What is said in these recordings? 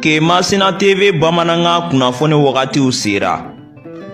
Kemasina TV bamanankan kunnafoni wagatiw sera.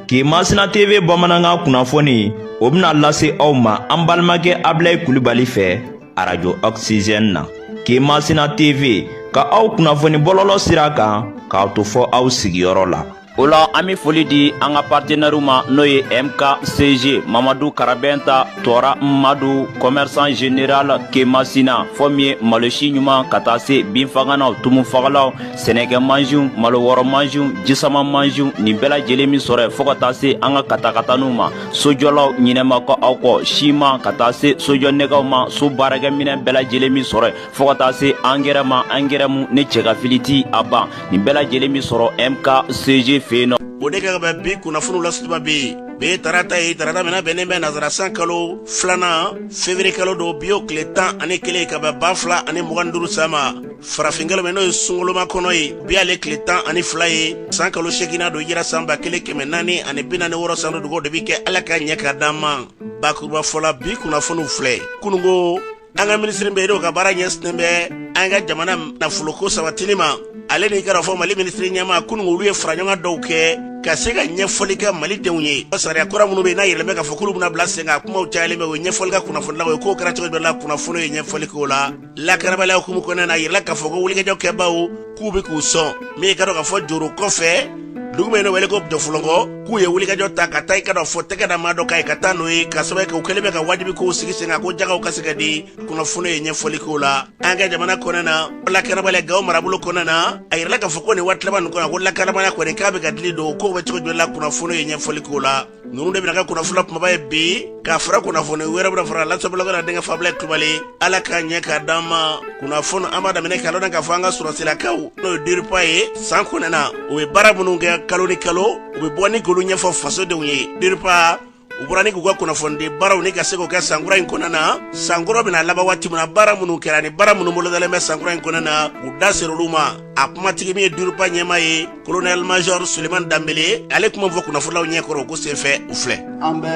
Kemasina TV bamanankan kunnafoni o bɛna lase aw ma an balimakɛ Abilayi Kulibali fɛ arajo Oxygène na. Kemasina TV ka aw kunnafoni bɔlɔlɔ sira kan k'aw to fɔ aw sigiyɔrɔ la. o la an be foli di an ka partenɛriw ma n'o ye mkcg mamadu karabɛnta tɔɔra madu kɔmɛrisan general kemasina fɔ min ye malosi ɲuman ka taa se binfaganaw tumufagalaw sɛnɛkɛ mansiw malo wɔrɔ mansiw jisama mansiw nin bɛɛ lajɛlen be sɔrɔ yen fɔɔ ka taa se an ka katakataniw ma sojɔlaw ɲinɛ ma kɛ aw kɔ siman ka taa se sojɔ nɛgɛw ma so baarakɛminɛn bɛɛ lajɛlen be sɔrɔ yen fɔɔ ka taa se angɛrɛ ma angɛrɛ mu ni cɛgafili ti a ban nin bɛɛ lajɛlen be sɔrɔ mkcg fɛ yen nɔ o de ka bɛ bi kunnafoniw la sutuba bi ye tarata ye tarata min a bɛnnen bɛ nazara san kalo filanan fevrier kalo don bi o kile tan ani kelen ka bɛn ba fila ani mugan duru san ma farafinkalo min n'o ye sunkalomakɔnɔ ye bi ale tile tan ani fila ye san kalo seginan don hijira san ba kelen kɛmɛ naani ani bi naani wɔrɔ san don dugaw de bi kɛ ala k'a ɲɛ k'a d'an ma bakurubafɔ la bi kunnafoniw filɛ kunungo an ka minisiri min de ka baara ɲɛsinnen bɛ an ka jamana nafoloko sabatili ma ale ni i k'a dɔn k'a fɔ mali minisiri ɲɛmaa kunungo olu ye faraɲɔgɔn dɔw kɛ ka se ka ɲɛfɔli kɛ mali denw ye sariya kura minnu bɛ yen n'a yiralen bɛ k'a fɔ k'olu bɛna bila sen kan kumaw cayalen bɛ u ye ɲɛfɔli kɛ kunnafonilaw ye kow kɛra cogo jumɛn la kunnafoni ye ɲɛfɔli k'o la lakanabaliya hukumu kɔnɔna na a yirala k'a fɔ ko wulikajɔ kɛbaaw k'u bɛ k'u sɔn min i k'a dɔn k'a fɔ joro kɔfɛ dugu min bɛ wele ko jɔfɔlɔnkɔ k'u ye wulikajɔ ta ka taa i k'a dɔn k'a fɔ tɛgɛ da maa dɔ kan yen ka taa n'o ye k'a sababu kɛ u kɛlen bɛ ka wajibi kow sigi sen kan ko jagaw ka se ka di kunnafoni ye ɲɛfɔli k'o la an ka jamana kɔnɔna na lakanabaliya gawo marabolo kɔnɔna na a yirala k'a fɔ ko nin waati laban nin kɔnɔ ko lakanabaliya kɔni k'a bɛ ka dili don kow bɛ cogo jumɛn la kunnafoni ye ɲɛfɔli k'o la ninnu de bɛna kɛ kunnafoni la kumaba ye bi k'a fara kunnafoni wɛrɛ bɛna fara lase bɛna kɛ aw denkɛ fɛ abilayi kulubali ala k'a ɲɛ k'a d'an ma kunnafoni an b'a daminɛ k'a dɔn k'a fɔ an ka sɔrɔsilakaw n'o ye diripa ye san kɔnɔna u bɛ baara minnu kɛ kalo ni kalo u bɛ bɔ ni k'olu ɲɛfɔ fasodenw ye diripa u bɔra ni k'u ka kunnafonidi baaraw ni ka se k'o kɛ sankura in kɔnɔna na sankɔrɔ bɛna laban waati min na baara minnu kɛra ni baara minnu bolodalen bɛ sankura in kɔnɔna na u da ser'olu ma a kumatigi min ye diripa ɲɛmaa ye kolonɛli major suleman danbele ale kuma fɔ kunnafonilaw ɲɛkɔrɔ o ko senfɛ o filɛ an bɛ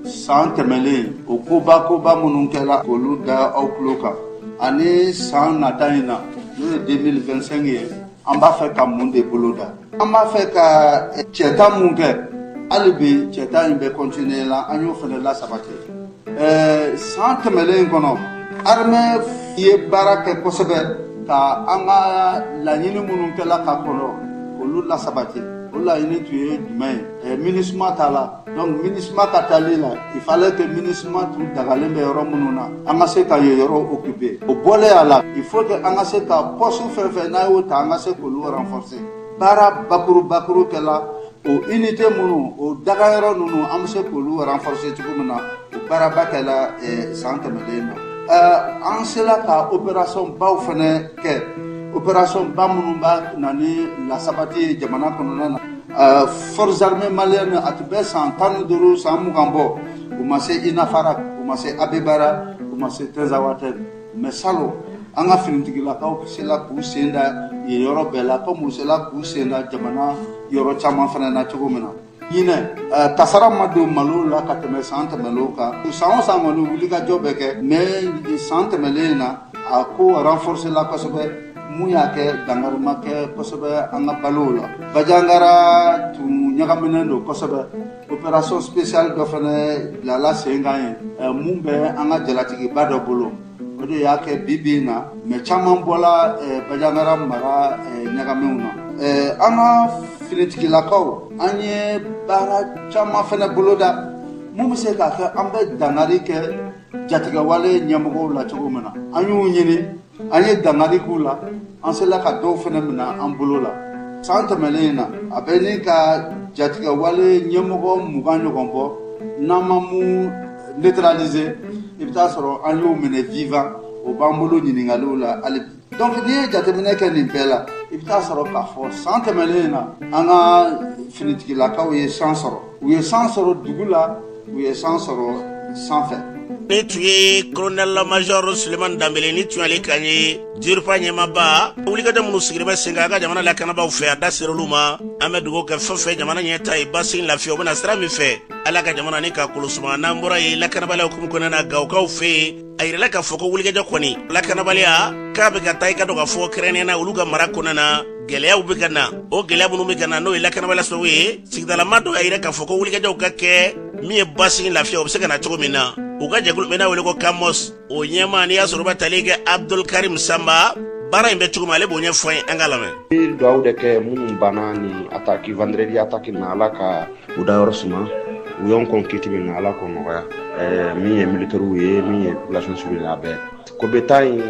saan tɛmɛlen o koba koba minnu kɛla k'olu da aw tulo kan ani saan nata in na n'o ye 2025 ye an b'a fɛ ka mun de boloda an b'a fɛ ka cɛta mun kɛ hali bi cɛta in bɛ kɔntiniye la an y'o fana lasabati Eh, san tɛmɛlen kɔnɔ armée ye baara kɛ kosɛbɛ ka an ka laɲini minnu kɛla ka kɔnɔ olu lasabati o laɲini tun ye jumɛn ye eh, MINUSMA taala donc MINUSMA ka taali la il fallait que MINUSMA tun dagalen bɛ yɔrɔ minnu na an ka se ka yen yɔrɔ occuper o bɔlen a la il faut que an ka se ka poste fɛn fɛn n'a y'o ta an ka se k'olu renforcer baara bakuru bakuru kɛla O unité minnu o dagayɔrɔ ninnu an bɛ se k'olu renforcer cogo min na o baaraba kɛla san tɛmɛlen na an sela ka opération baw fana kɛ opération ba minnu bɛ na ni lasabati ye jamana kɔnɔna na forces armées maliennes a tun bɛ san tan ni duuru san mugan bɔ u ma se Inafarak u ma se Abeïbara u ma se Tinzawatène mais salon an ka finitigilakaw sela k'u sen da yen yɔrɔ bɛɛ la komi u sela k'u sen da jamana yɔrɔ caman fana na cogo min na ɲinɛ eh, kasara ma don malo la ka tɛmɛ san tɛmɛlenw kan san o san kɔni wulikajɔ bɛ kɛ mais san tɛmɛlen na a ko renforcer la kosɛbɛ mun y'a kɛ dankari ma kɛ kosɛbɛ an ka balow la bajangara tun ɲagaminen don kosɛbɛ opération spéciale dɔ fana bilala sen kan yen eh, mun bɛ an ka jalatigiba dɔ bolo o de y'a kɛ bi bi in na mɛ caman bɔla eh, bajangara mara eh, ɲagaminw na an ka finitigilakaw an ye baara caman fana boloda mun bɛ se k'a kɛ an bɛ dankari kɛ jatigɛwale ɲɛmɔgɔw la cogo min na an y'u ɲini an ye dankari k'u la an sela ka dɔw fɛnɛ mina an bolo la san tɛmɛlen in na a bɛ ɲini ka jatigɛwale ɲɛmɔgɔ mugan ɲɔgɔn bɔ n'an ma mun neutraliser i bɛ taa sɔrɔ an y'o minɛ vivant o b'an bolo ɲininkaliw la hali bi donc n'i ye jateminɛ kɛ nin bɛɛ la i bɛ taa sɔrɔ k'a fɔ san tɛmɛlen in na an ka finitigilakaw ye san sɔrɔ u ye san sɔrɔ dugu la u ye san sɔrɔ sanfɛ nin tun ye kolonɛl majɔr suleman danbele nin tun y'ale kan ye DIRPA ɲɛmaaba wulikajɔ minnu sigilen bɛ sen kan an ka jamana lakanabaaw fɛ a da ser'olu ma an bɛ dugawu kɛ fɛn fɛn jamana ɲɛtaa ye basigi lafiya o bɛna sira min fɛ ala ka jamana ni ka kolosuma n'an bɔra yen lakanabaliya hukumu kɔnɔna na gawokaw fɛ yen a yirala k'a fɔ ko wulikajɔ kɔni lakanabaliya k'a bɛ ka taa i k'a dɔn k'a fɔ kɛrɛnkɛrɛnnenya la olu ka mara kɔnɔna na gɛlɛyaw bɛ ka na o gɛlɛya minnu bɛ ka na n'o ye lakanabaliya sababu ye sigidalama dɔ y'a yira k'a fɔ ko wulikajɔw ka kɛ min ye basigi lafiya o bɛ se ka na cogo min na u ka jɛkulu bɛ n'a wele ko kamos o ɲɛmaa n'i y'a sɔrɔ ba tali kɛ abdul karim sanba baara in bɛ cogo min ale b'o ɲɛfɔ an ye an ka lamɛn. dugawu de kɛ minnu banna nin attaque vendredi attaque na ala ka u da yɔrɔ suma u y'an kɔn kiti min na ala k'o nɔgɔya eh, min ye militɛriw ye min ye population civile a bɛɛ kobe ta in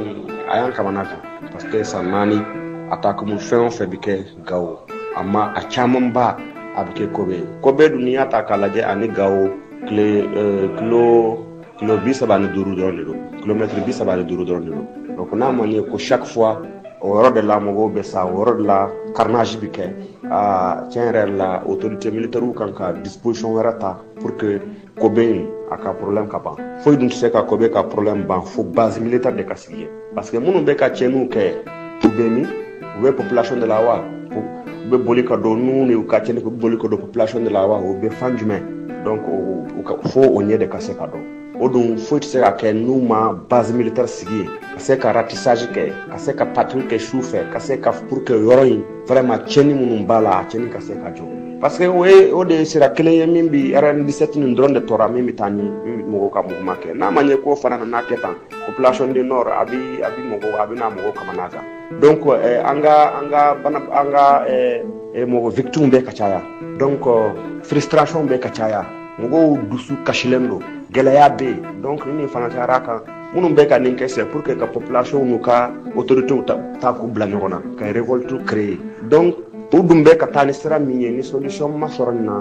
a y'an kamana gan parce que san naani attaque min fɛn o fɛn bɛ kɛ gawo a ma a camanba a bɛ kɛ kobe yen kobe dun n'i y'a ta k'a lajɛ ani gawo tile eh, kilo kilo bi saba ni duuru dɔrɔn de don kilomɛtiri bi saba ni duuru dɔrɔn de don donc n'a man ye ko chaque fois o yɔrɔ de la mɔgɔw bɛ sa o yɔrɔ de la carnage bɛ kɛ aa tiɲɛ yɛrɛ la autorité militaire ka kan ka disposition wɛrɛ ta pour que kobe in a ka problème ka ban foyi dun tɛ se ka kobe ka problème ban fo base militaire de ka sigi yen parce que minnu bɛ ka tiɲɛniw kɛ u bɛ min u bɛ population de la wa u bɛ boli ka don n'u ni u ka tiɲɛni u bɛ boli ka don population de la wa u bɛ fan jumɛn donc u ka fo o ɲɛ de ka se ka dɔn o dun foyi tɛ se ka kɛ n'u ma base militaire sigi yen ka se ka ratissage kɛ ka se ka patrouille kɛ su fɛ ka se ka pour que yɔrɔ in vraiment tiɲɛni minnu b'a la a tiɲɛni ka se ka jɔ parce que o ye o de ye sira kelen ye min bi rn 17 nin dɔrɔn de tora min bɛ taa ni mɔgɔw ka mouvement kɛ n'a ma ɲɛ k'o fana nana kɛ tan population du nord a bɛ a bɛ mɔgɔ a bɛ na mɔgɔ kamana gan donc eh, an ka an ka bana an ka eh, eh, mɔgɔ victime bɛ ka caya donc frustration bɛ ka caya mɔgɔw dusu kasilen don gɛlɛya bɛ yen donc ni nin fana cayara kan minnu bɛ ka nin kɛ c'est pour que ka population n'u ka autorités ta, ta k'u bila ɲɔgɔn na ka révolte créer donc u dun bɛ ka taa ni sira min ye ni solution ma sɔrɔ nin na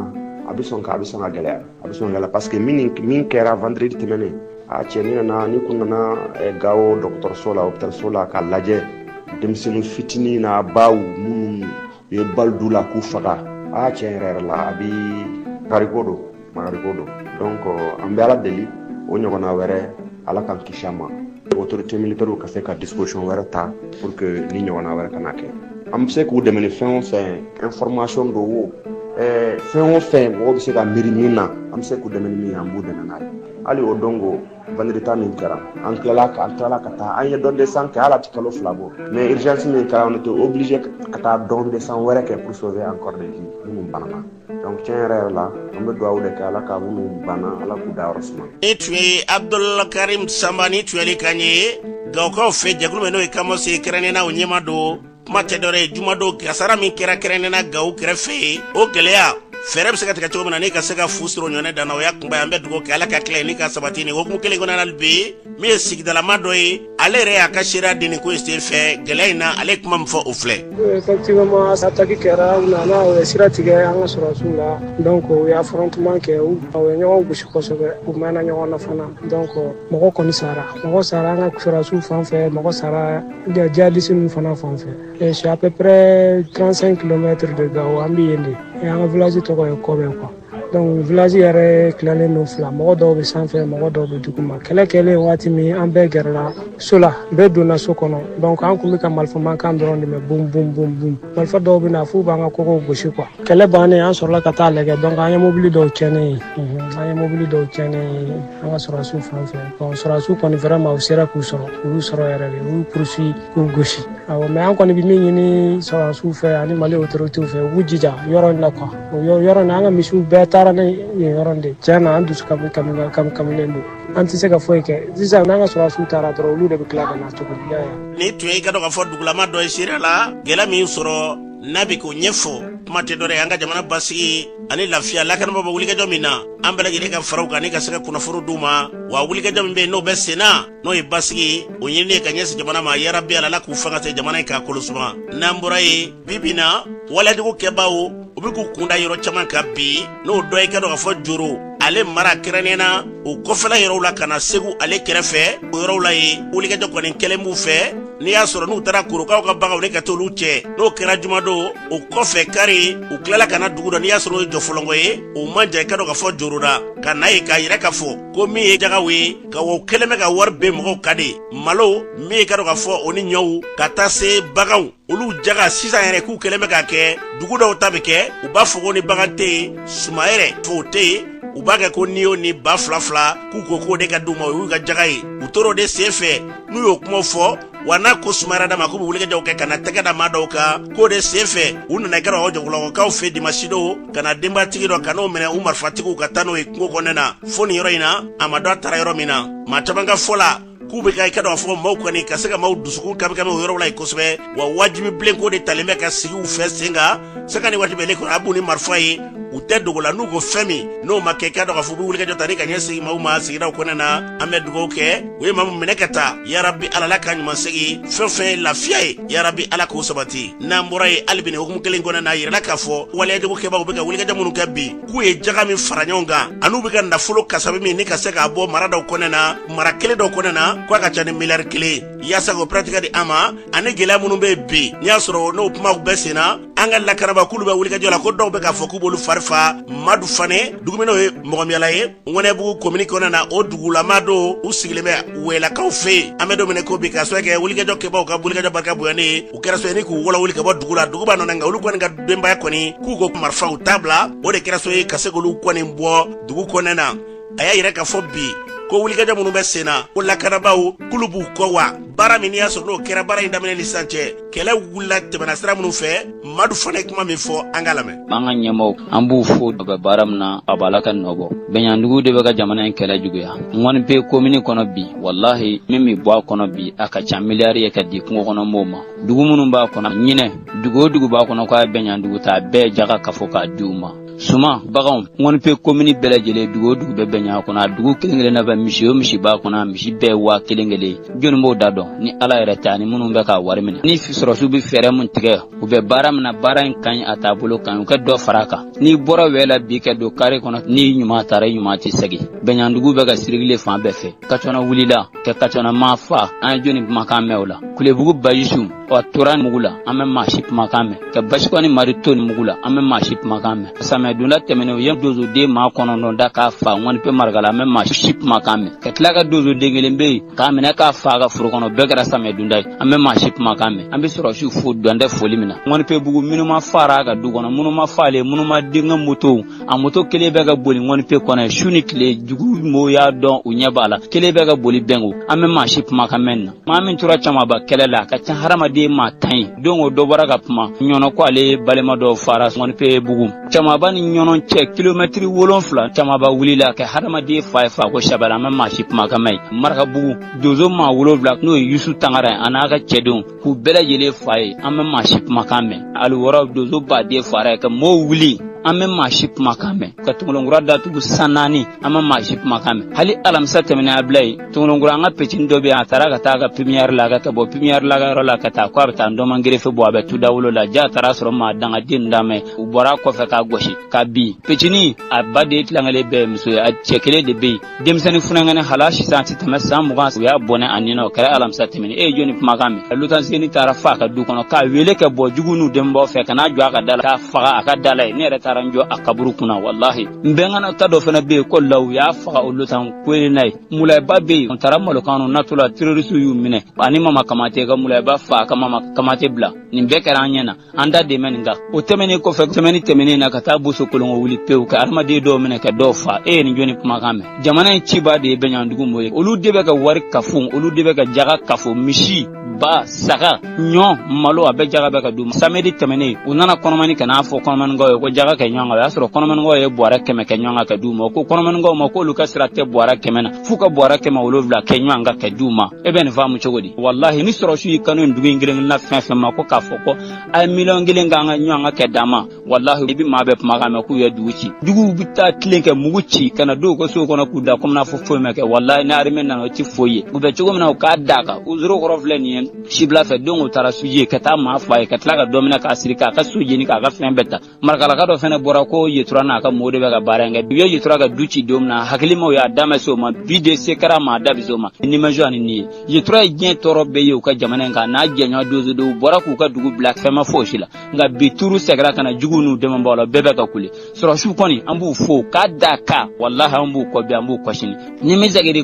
a bɛ sɔn ka a bɛ sɔn ka gɛlɛya a bɛ sɔn la parce que min min kɛra vendredi tɛmɛnen a cɛ n'i nana n'i tun nana eh, gawo dɔgɔtɔrɔso la hôpitalso la k'a lajɛ denmisɛnnin fitinin n'a baw minnu u ye bali d'u la k'u faga a tiɲɛ yɛrɛ yɛrɛ la a bi kariko don magariko don donc an bɛ ala deli o ɲɔgɔnna wɛrɛ ala k'an kisi a ma autorité militaire ka se ka disposition wɛrɛ ta pour que nin ɲɔgɔnna wɛrɛ kana kɛ an bɛ se k'u dɛmɛ ni fɛn o fɛn information don wo eh, fɛn o fɛn mɔgɔ bɛ se ka miiri min na an bɛ se k'u dɛmɛ ni min ye an b'u dɛmɛ n'a ye hali o don ko vendredi min kɛra an tilala ka an tilala ka taa an ye don de sang kɛ hali a tɛ kalo fila bɔ mais urgence min kɛra on était obligé ka taa don de sang wɛrɛ kɛ pour sauver encore des vies minnu banana donc tiɲɛ yɛrɛ yɛrɛ la an bɛ dugawu de kɛ ala ka minnu banna ala k'u da yɔrɔ suma nin tun ye abdulkarim sanba nin tun y'ale kan ye gawokaw fɛ jɛkulu min n'o ye kamos ye kɛrɛnnena o ɲɛmaa don kuma tɛ dɔwɛrɛ ye jumadon kasara min kɛra kɛrɛnnena gawo kɛrɛfɛ o gɛlɛya fɛɛrɛ bɛ se ka tigɛ cogo min na ni ka se ka fu siri o ɲɔgɔnna dan na o y'a kunba ye an bɛ dugawu kɛ ala k'a tilen ni k'a sabati nin hukumu kelen kɔnɔna na hali bi min ye sigidalamaa dɔ ye ale yɛrɛ y'a ka seereya di nin ko in sen fɛ gɛlɛya in na ale ye kuma min fɔ o filɛ. effectivement attaque kɛra u nana u ye sira tigɛ an ka sɔrɔdasiw la donc u ye affrontement kɛ u ye ɲɔgɔn gosi kosɛbɛ u mɛnna ɲɔgɔn na fana donc mɔgɔ kɔni sara mɔgɔ sara an ka sɔrɔdasiw fan fɛ mɔgɔ sara jihadiste ninnu fana fan fɛ c'est à peu près 35 kilomètres de Gao an bɛ yen de an ka village tɔgɔ ye Kɔbɛ quoi. donc village yɛrɛ tilalen don fila mɔgɔ dɔw bɛ sanfɛ mɔgɔ dɔw bɛ duguma kɛlɛ kɛlen waati min an bɛɛ gɛrɛla so la bɛɛ donna so kɔnɔ donc an kun bɛ ka marifamankan dɔrɔn de mɛn bum bum bum bum marifa dɔw bɛ na f'u b'an ka kogow gosi quoi kɛlɛ bannen an sɔrɔla ka taa lajɛ donc an ye mobili dɔw tiɲɛnen ye an ye mobili dɔw tiɲɛnen ye an ka sɔrɔdasiw fan fɛ bon sɔrɔdasiw kɔni vraiment u sera k'u sɔrɔ u y'u sɔrɔ yɛrɛ de u y'u poursuit k'u gosi awɔ mais an kɔni bɛ min ɲini sɔrɔdasiw fɛ ani Mali autorités fɛ u k'u jija yɔrɔ in na quoi O yɔrɔ yɔrɔ nin an ka misiw bɛɛ taara ne nin yɔrɔ de tiɲɛna an dusu kamikamilen don an tɛ se ka foyi kɛ sisan n'an ka sɔrɔsiw taara dɔrɔn olu de bɛ tila ka na tuguni nin tun ye i k'a dɔn k'a fɔ dugulama dɔ ye seereya la gɛlɛya min sɔrɔ n'a bɛ k'o ɲɛfɔ kuma tɛ dɔ wɛrɛ ye an ka jamana basigi ani lafiya lakanabaaw bɛ wulikajɔ min na an bɛɛ lajɛlen ka fara u kan ni ka se ka kunnafoni d'u ma wa wulikajɔ min bɛ yen n'o bɛ sen na n'o ye basigi o ɲinini ye ka ɲɛsin jamana ma yarabi ala la k'u fanga se jamana in k'a kolo suma n'an bɔra yen bi bi na walejugu kɛbaaw u bɛ k'u kun da yɔrɔ caman kan bi n'o dɔ ye i k'a dɔn k'a fɔ Joro ale mara kɛrɛnnen na o kɔfɛla yɔrɔw la ka na Segu ale kɛrɛfɛ o yɔrɔw la yen wulikajɔ kɔni kɛlen b'u fɛ n'i y'a sɔrɔ n'u taara Korokaw ka baganw ne ka t'olu cɛ n'o kɛra jumadon o kɔfɛ kari u tilala ka na dugu dɔ n'i y'a sɔrɔ o ye Jɔfɔlɔnkɔ ye o man jan i k'a dɔn k'a fɔ Joro la ka na yen k'a yira k'a fɔ ko min ye jakaw ye k'u kɛlen bɛ k'a wajibi mɔgɔw kan de malo min ye i k'a dɔn k'a fɔ o ni ɲɔw ka taa se baganw olu jaka sisan yɛrɛ k'u kɛlen bɛ k'a kɛ dugu dɔw ta bɛ kɛ u b'a fɔ ko ni bagan tɛ yen suman yɛrɛ fo o tɛ yen u b'a kɛ ko n'i y'o ni ba fila fila k'u ko k'o de ka d'u ma o y'u ka jaka ye u tor'o de sen fɛ n'u y'o kuma fɔ wa n'a ko sumayara dama k'u bɛ wulikajɔw kɛ ka na tɛgɛ da maa dɔw kan k'o de sen fɛ u nana kɛra o Jɔfɔlɔnkɔkaw fɛ dimasidon ka na denbatigi dɔ ka n'o minɛ u marifatigiw ka taa n'o ye kungo kɔnɔna na fo nin yɔrɔ in na a ma dɔn a taara yɔrɔ min na maa caman ka fɔ la k'u bɛ ka i k'a dɔn k'a fɔ maaw kɔni ka se ka maaw dusukun kamikami o yɔrɔ la yen kosɛbɛ wa wajibi bilen ko de talen bɛ ka sigi u fɛ sen kan sanga ni waati bɛɛ de kɔnɔ a b'u ni marifa ye u tɛ dogo la n'u ko fɛn min n'o ma kɛ i k'a dɔn k'a fɔ u bɛ wulikajɔ ta ni ka ɲɛsin maaw ma sigidaw kɔnɔna na an bɛ dugawu kɛ u ye maa min minɛ ka taa yarabi ala la k'a ɲuman segin fɛn fɛn ye lafiya ye yarabi ala k'o sabati n'an bɔra yen hali bi nin hukumu kelen kɔnɔna na a yirala k'a fɔ waleyajugu kɛbaaw bɛ ka wulikajɔ minnu kɛ bi k'u ye jaga min fara ɲɔgɔn kan an'u bɛ ka nafolo kasabi min ni ka se k'a bɔ mara dɔw kɔnɛ na mara kelen dɔw kɔnɛ na k'a ka ca ni miliyari kelen yaasa k'o pɛrɛtigɛ di an ma ani gɛlɛya minnu bɛ yen bi n'i y'a sɔrɔ n'o kumaw bɛ sen na an ka lakanabaaw k'olu bɛ wulikajɔ la ko dɔw bɛ k'a fɔ k'u b'olu fari fa madu fane dugu min n'o ye mɔgɔmiyala ye ŋɔnɛbugu komini kɔnɛ na o dugula maa don u sigilen bɛ wɛlakaw fɛ yen an bɛ don min na i ko bi k'a sabu kɛ wulikajɔ kɛbaaw ka wulikajɔ barika bonyani ye u kɛra sabu ye ni k'olu wuli ka bɔ dugu la dugu b'a nɔ na nka olu kɔni ka denbaya kɔni k'u ko marifaw tabila o de kɛra sabu ye ka se k'olu kɔni bɔ dugu kɔnɛ na a y'a yira k'a fɔ bi ko wulikajɔ minnu bɛ sen na ko lakanabaaw k'olu b'u kɔ wa baara min n'i y'a sɔrɔ n'o kɛra baara in daminɛ ni sisan cɛ kɛlɛ wulila tɛmɛna sira minnu fɛ madu fane ye kuma min fɔ an k'a lamɛn an ka ɲɛmɔgɔw an b'u fo u bɛ baara min na a b'a la ka nɔ bɔ bɛnyandugu de bɛ ka jamana in kɛlɛ juguya ŋɔni pe komini kɔnɔ bi walahi min bɛ bɔ a kɔnɔ bi a ka ca miliyari ye ka di kungo kɔnɔ mɔgɔw ma dugu minnu b'a kɔnɔ ɲinɛ dugu o dugu b'a kɔnɔ k'a bɛnɲandugu ta bɛɛ jaga kafo k'a di u ma suman baganw ŋɔnipe komini bɛɛ lajɛlen dugu o dugu bɛ bɛnɲan kɔnɔ a dugu kelen kelen na bɛ misi o misi b'a kɔnɔ a misi bɛɛ waa kelen kelen jɔni b'o da dɔn ni ala yɛrɛ tɛ ani minnu bɛ k'a wari minɛ ni sɔrɔsiw bɛ fɛɛrɛ min tigɛ u bɛ baara min na baara in ka ɲi a taabolo ka ɲi u ka dɔ fara a kan n'i bɔra wɛla bi ka don kare kɔnɔ n'i ɲuman taara i ɲuman tɛ segin bɛnɲandugu bɛ ka sirigile fan bɛɛ fɛ kacɔna wulila kɛ kacɔna maa fa an ye jɔni kumakan mɛn o la kulebugu bayisu ɔ tora mugu la an ma maa si kumakan mɛn ka basiko ni mari to ni mugu la an ma maa si kumakan mɛn samiyɛdonda tɛmɛnen u ye dozoden maa kɔnɔntɔn da k'a fa ŋɔni pe marigala an ma maa si kumakan mɛn ka tila ka dozoden kelen bɛ yen k'a minɛ k'a fa a ka foro kɔnɔ bɛɛ kɛra samiyɛdonda ye an ma maa si kumakan mɛn an bɛ sɔrɔsiw fo dan tɛ foli min na ŋɔni pe bugu minuma fara a ka du kɔnɔ minuma faale minuma denkɛ moto a moto kelen bɛ ka boli ŋɔni pe kɔnɔ su ni tile jugu mɔgɔw y'a dɔn u ɲɛ b'a la kelen bɛ ka boli bɛnko an ma maa si kumakan mɛn na maa min tora camanba kɛlɛ la a ka ca hadamaden maa tan ye don o dɔ bɔra ka kuma ɲɔnɔ ko ale balima dɔ fara ŋɔni pe bugu camanba ni ɲɔnɔ cɛ kilomɛtiri wolonfila camanba wulila ka hadamaden fa yen fa ko saba la an ma maa si kumakan mɛn marakabugu dozo maa wolonfila n'o ye yusu tangara ye a n'a ka cɛdenw k'u bɛɛ lajɛlen fa yen an ma maa si kumakan mɛn ali wɔɔrɔ dozo baden fara yen ka mɔɔw wuli an ma maa si kumakan mɛn ka tongolonkura datugu san naani an ma maa si kumakan mɛn hali alamisa tɛmɛnen a bila ye tongolonkura an ka petini dɔ bɛ yen a taara ka taa a ka pipiniyɛri la ka taa bɔ pipiniyɛri la ka yɔrɔ la ka taa ko a bɛ taa ndɔman gerefe bɔ a bɛ tu dawolo la ja a taara sɔrɔ maa dangaden d'a mɛn u bɔra kɔfɛ k'a gosi k'a bin petini a ba de ye tilankelen bɛɛ muso ye a cɛ kelen de bɛ yen denmisɛnnin funankɛnɛ hala sisan a tɛ tɛmɛ san mugan u y'a bɔnɛ a nin na o kɛra alamisa tɛmɛnen e ye jɔni kumakan mɛn lutan seni taara fa a ka du kɔnɔ k'a weele kɛ bɔ jugu n'u denbaw fɛ ka n'a jɔ a ka da la k'a faga a ka da la yen ne yɛrɛ taara n jɔ a kaburu kunna walahi n bɛnkana ta dɔ fana bɛ yen ko la u y'a faga o lutan koyina ye mulayaba bɛ yen n taara malokan na natɔla terorisiw y'u minɛ ani mama kamate ka mulayaba fa ka mama kamate bila nin bɛɛ kɛra an ɲɛ na an da dɛmɛ nin kan o tɛmɛnen kɔfɛ sɛmɛni tɛmɛnen na ka taa boso kolongo wuli pewu ka adamaden dɔw minɛ ka dɔw fa e ye nin jɔni kumakan mɛn jamana in cibaa de ye bɛɲɔgɔndugu mɔ ye olu de bɛ ka wari kafo olu de bɛ ka jaga kafo misi ba saga ɲɔ malo a bɛɛ jaga bɛ ka d'u ma samedi tɛmɛnen u nana kɔnɔmani ka n'a fɔ kɔnɔmaninkaw ye ko jaga kɛ ɲɔgɔn kan o y'a sɔrɔ kɔnɔmaninkaw ye bɔrɛ kɛmɛ kɛ ɲɔgɔn kan ka d'u ma ko kɔnɔmaninkaw ma k'olu ka sira tɛ bɔrɛ kɛmɛ na f'u ka bɔrɛ kɛmɛ wolowula kɛ ɲɔgɔn kan ka d'u ma e bɛ nin faamu cogo di walahi ni sɔrɔsiw y'i kan dugu in kelen kelen na fɛn fɛn ma ko k'a fɔ ko a ye miliyɔn kelen kɛ ɲɔgɔn kan ka d'a ma walahi i bɛ maa bɛɛ kuma kan mɛn k'u ye dugu ci juguw bɛ taa tilen kɛ mugu ci ka na don u ka sow kɔnɔ k'u da komi n'a fɔ foyi ma kɛ walahi ni armée nana o tɛ foyi ye u bɛ cogo min na u k'a d'a kan u zoro kɔrɔ filɛ nin ye sibila fɛ don o taara suji yen ka taa maa fa yen ka tila ka dɔ minɛ k'a siri k'a ka so jeni k'a ka fɛn bɛɛ ta Markalaka dɔ fana bɔra ko yetura n'a ka mɔ de bɛ ka baara kɛ bi yetura ka du ci don min na hakilimaw y'a daminɛ se o ma bi de se kɛra maa da o ma ni maz ni nin ye yetura ye diɲɛ tɔɔrɔ bɛɛ ye u ka jamana in kan n'a jɛɲɔgɔn donsodenw bɔra k'u ka dugu bila fɛn ma foyi si la nka bi tuuru sɛgɛrɛ kana na jugu n'u dɛmɛbaa la bɛɛ bɛ ka kule sɔrɔsiw kɔni an b'u fo k'a da kan walahi an b'u kɔ bi an b'u kɔ sini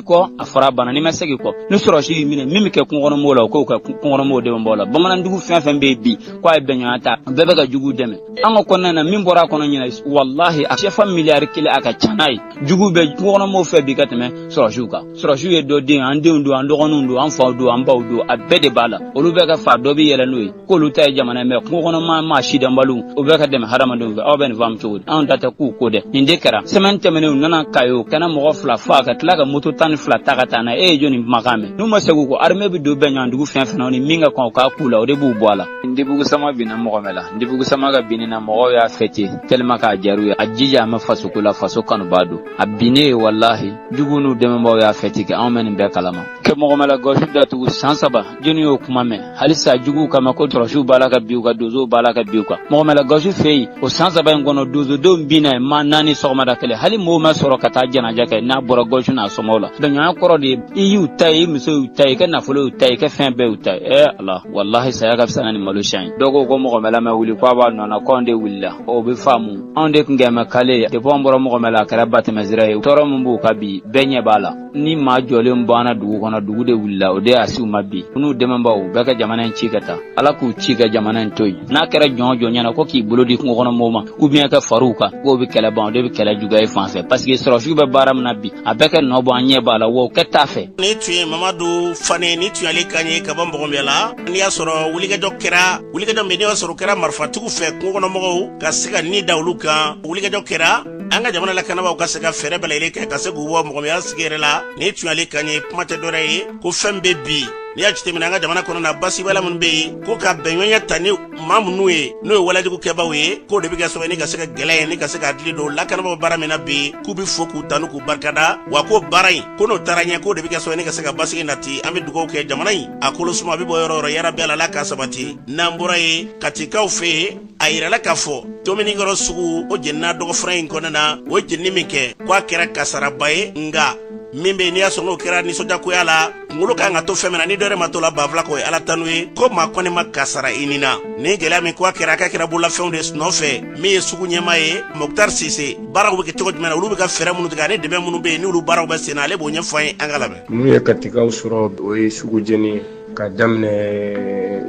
miri kɔ a fara bana n'u ma segin kɔ ni sɔrɔsiw minɛ min bɛ kɛ kungokɔnɔmɔgɔw la k'o kɛ kungokɔnɔmɔgɔw dɛmɛbaa la bamanandugu fɛn fɛn bɛ bi k'a ye bɛnɲɔgɔnya ta bɛɛ bɛ ka jugu dɛmɛ an ka kɔnɔna na min bɔra a kɔnɔ ɲinan walahi a sɛfa miliyari kelen a ka ca n'a ye jugu bɛ kungokɔnɔmɔgɔw fɛ bi ka tɛmɛ sɔrɔsiw kan sɔrɔsiw ye dɔ den an denw don an dɔgɔninw don an faw don an baw don a bɛɛ de b'a la olu bɛ ka fa dɔ bɛ yɛlɛ n'o ye k'olu ta ye jamana ye mɛ kungo kɔnɔ maa maa sidɔnbaliw o bɛ ka dɛmɛ hadamadenw fɛ aw bɛ nin faamu cogo di anw ta tɛ k'u ko dɛ nin de kɛra sɛmɛni tɛmɛnen u nana kayo ka na mɔgɔ fila fa ka tila ka moto tan ni fila ta ka taa n'a ye e ye jɔni kumakan mɛn n'u ma segin kɔ armée bɛ don bɛn ɲɔgɔn dugu fɛn fɛn na ni min ka kan u k'a kɛ u la o de b'u bɔ a la ndebugu sama binna mɔgɔmɛla ndebugu sama ka binni na mɔgɔw y'a fɛti tellement k'a jaw ye a jija an bɛ faso ko la faso kanubaa don a binnen ye walahi jugu n'u dɛmɛbagaw y'a fɛti kɛ anw bɛ nin bɛɛ kalama kɛ mɔgɔmɛla gawusu datugu san saba jɔnni y'o kuma mɛn halisa juguw kama ko terorisiw b'a la ka bin u kan donsow b'a la ka bin u kan mɔgɔmɛla gawusu fɛ yen o san saba in kɔnɔ donsodenw binna yen maa naani sɔgɔmada kelen hali mɔɔw ma sɔrɔ ka taa jɛnaja kɛ n'a bɔra gawusu n'a somɔw la dɔnɲɔgɔnya kɔrɔ de ye i y'u ta ye i muso y'u ta ye i ka nafolo y'u ta ye i ka fɛn bɛɛ y'u ta ye ee ala walahi saya ka fisa na ni malo siya in ye dɔ ko ko mɔgɔmɛla ma wuli ko a b'a nɔ na ko anw de wulila o bɛ faamu anw de tun kɛmɛ kale ye depuis anw bɔra mɔgɔmɛla a kɛra batɛmɛsira ye tɔɔrɔ min b'u kan bi bɛɛ ɲɛ b'a la ni maa jɔlen banna dugu kɔnɔ dugu de wulila o de y'a se u ma bi n'u dɛmɛbaaw u bɛɛ ka jamana in ci ka taa ala k'u ci ka jamana in to yen n'a kɛra jɔn jɔn ɲɛna ko k'i bolo di kungo kɔnɔ mɔgɔw ma ou bien ka far'u kan k'o bɛ kɛlɛ ban o de bɛ kɛlɛ juguya yen fan fɛ paseke sɔrɔsiw bɛ baara min na bi a bɛ ka nɔ bɔ an ɲɛ b'a la wa o kɛ t'a fɛ nin tun ye mamadu fane ni tuyali kan ye ka bɔ mɔgɔmɛla n'i y'a sɔrɔ wulikajɔ kɛra wulikajɔ min n'i y'a sɔrɔ o kɛra marifatigiw fɛ kungo kɔnɔ mɔgɔw ka se ka nin da olu kan wulikajɔ kɛra an ka jamana lakanabaaw ka se ka fɛɛrɛ bɛɛ lajɛlen kɛ ka se k'u bɔ mɔgɔmɔgɔya sigiyɔrɔ la nin tun y'ale kan ye kuma tɛ dɔrɛ ye ko fɛn bɛ bi n'i y'a jateminɛ an ka jamana kɔnɔna basigibaliya minnu bɛ yen ko ka bɛnɲɔgɔnya ta ni maa minnu ye n'o ye walejugu kɛbaaw ye k'o de bɛ kɛ sababu ni ka se ka gɛlɛya ye ni ka se k'a dili don lakanabaaw baara min na bi k'u bɛ fo k'u tanu k'u barikada wa ko baara in ko n'o taara ɲɛ k'o de bɛ kɛ sababu ni ka se ka basigi nati an bɛ dugawu kɛ jamana in a kolo suma a bɛ bɔ yɔrɔ yɔrɔ yɛrɛ bɛɛ la ala k'a sabati n'an bɔra ye katikaw fɛ yen a yirala k'a fɔ tominikɔrɔ sugu o jenina dɔgɔfura in kɔnɔna o jenini min kɛ ko a kɛra kasaraba ye nga min be n'i y'a sɔrɔ k'o kɛra nisɔndiyako y'a la kungolo ka kan ka to fɛn min na ni dɔ wɛrɛ ma to a la banfula kɔ o ye ala tanu ye ko maa kɔni ma kasara i ni na ni gɛlɛya min ko a kɛra k'a kɛra bololafɛnw de nɔfɛ min ye sugu ɲɛmaa ye moktar sise baaraw be kɛ cogo jumɛn na olu be ka fɛɛrɛ minnu tigɛ ani dɛmɛ minnu be yen n'olu baaraw bɛ sen na ale b'o ɲɛf'an ye an k'a lamɛn min ye katikaw sɔrɔ o ye sugu jeni ye ka daminɛ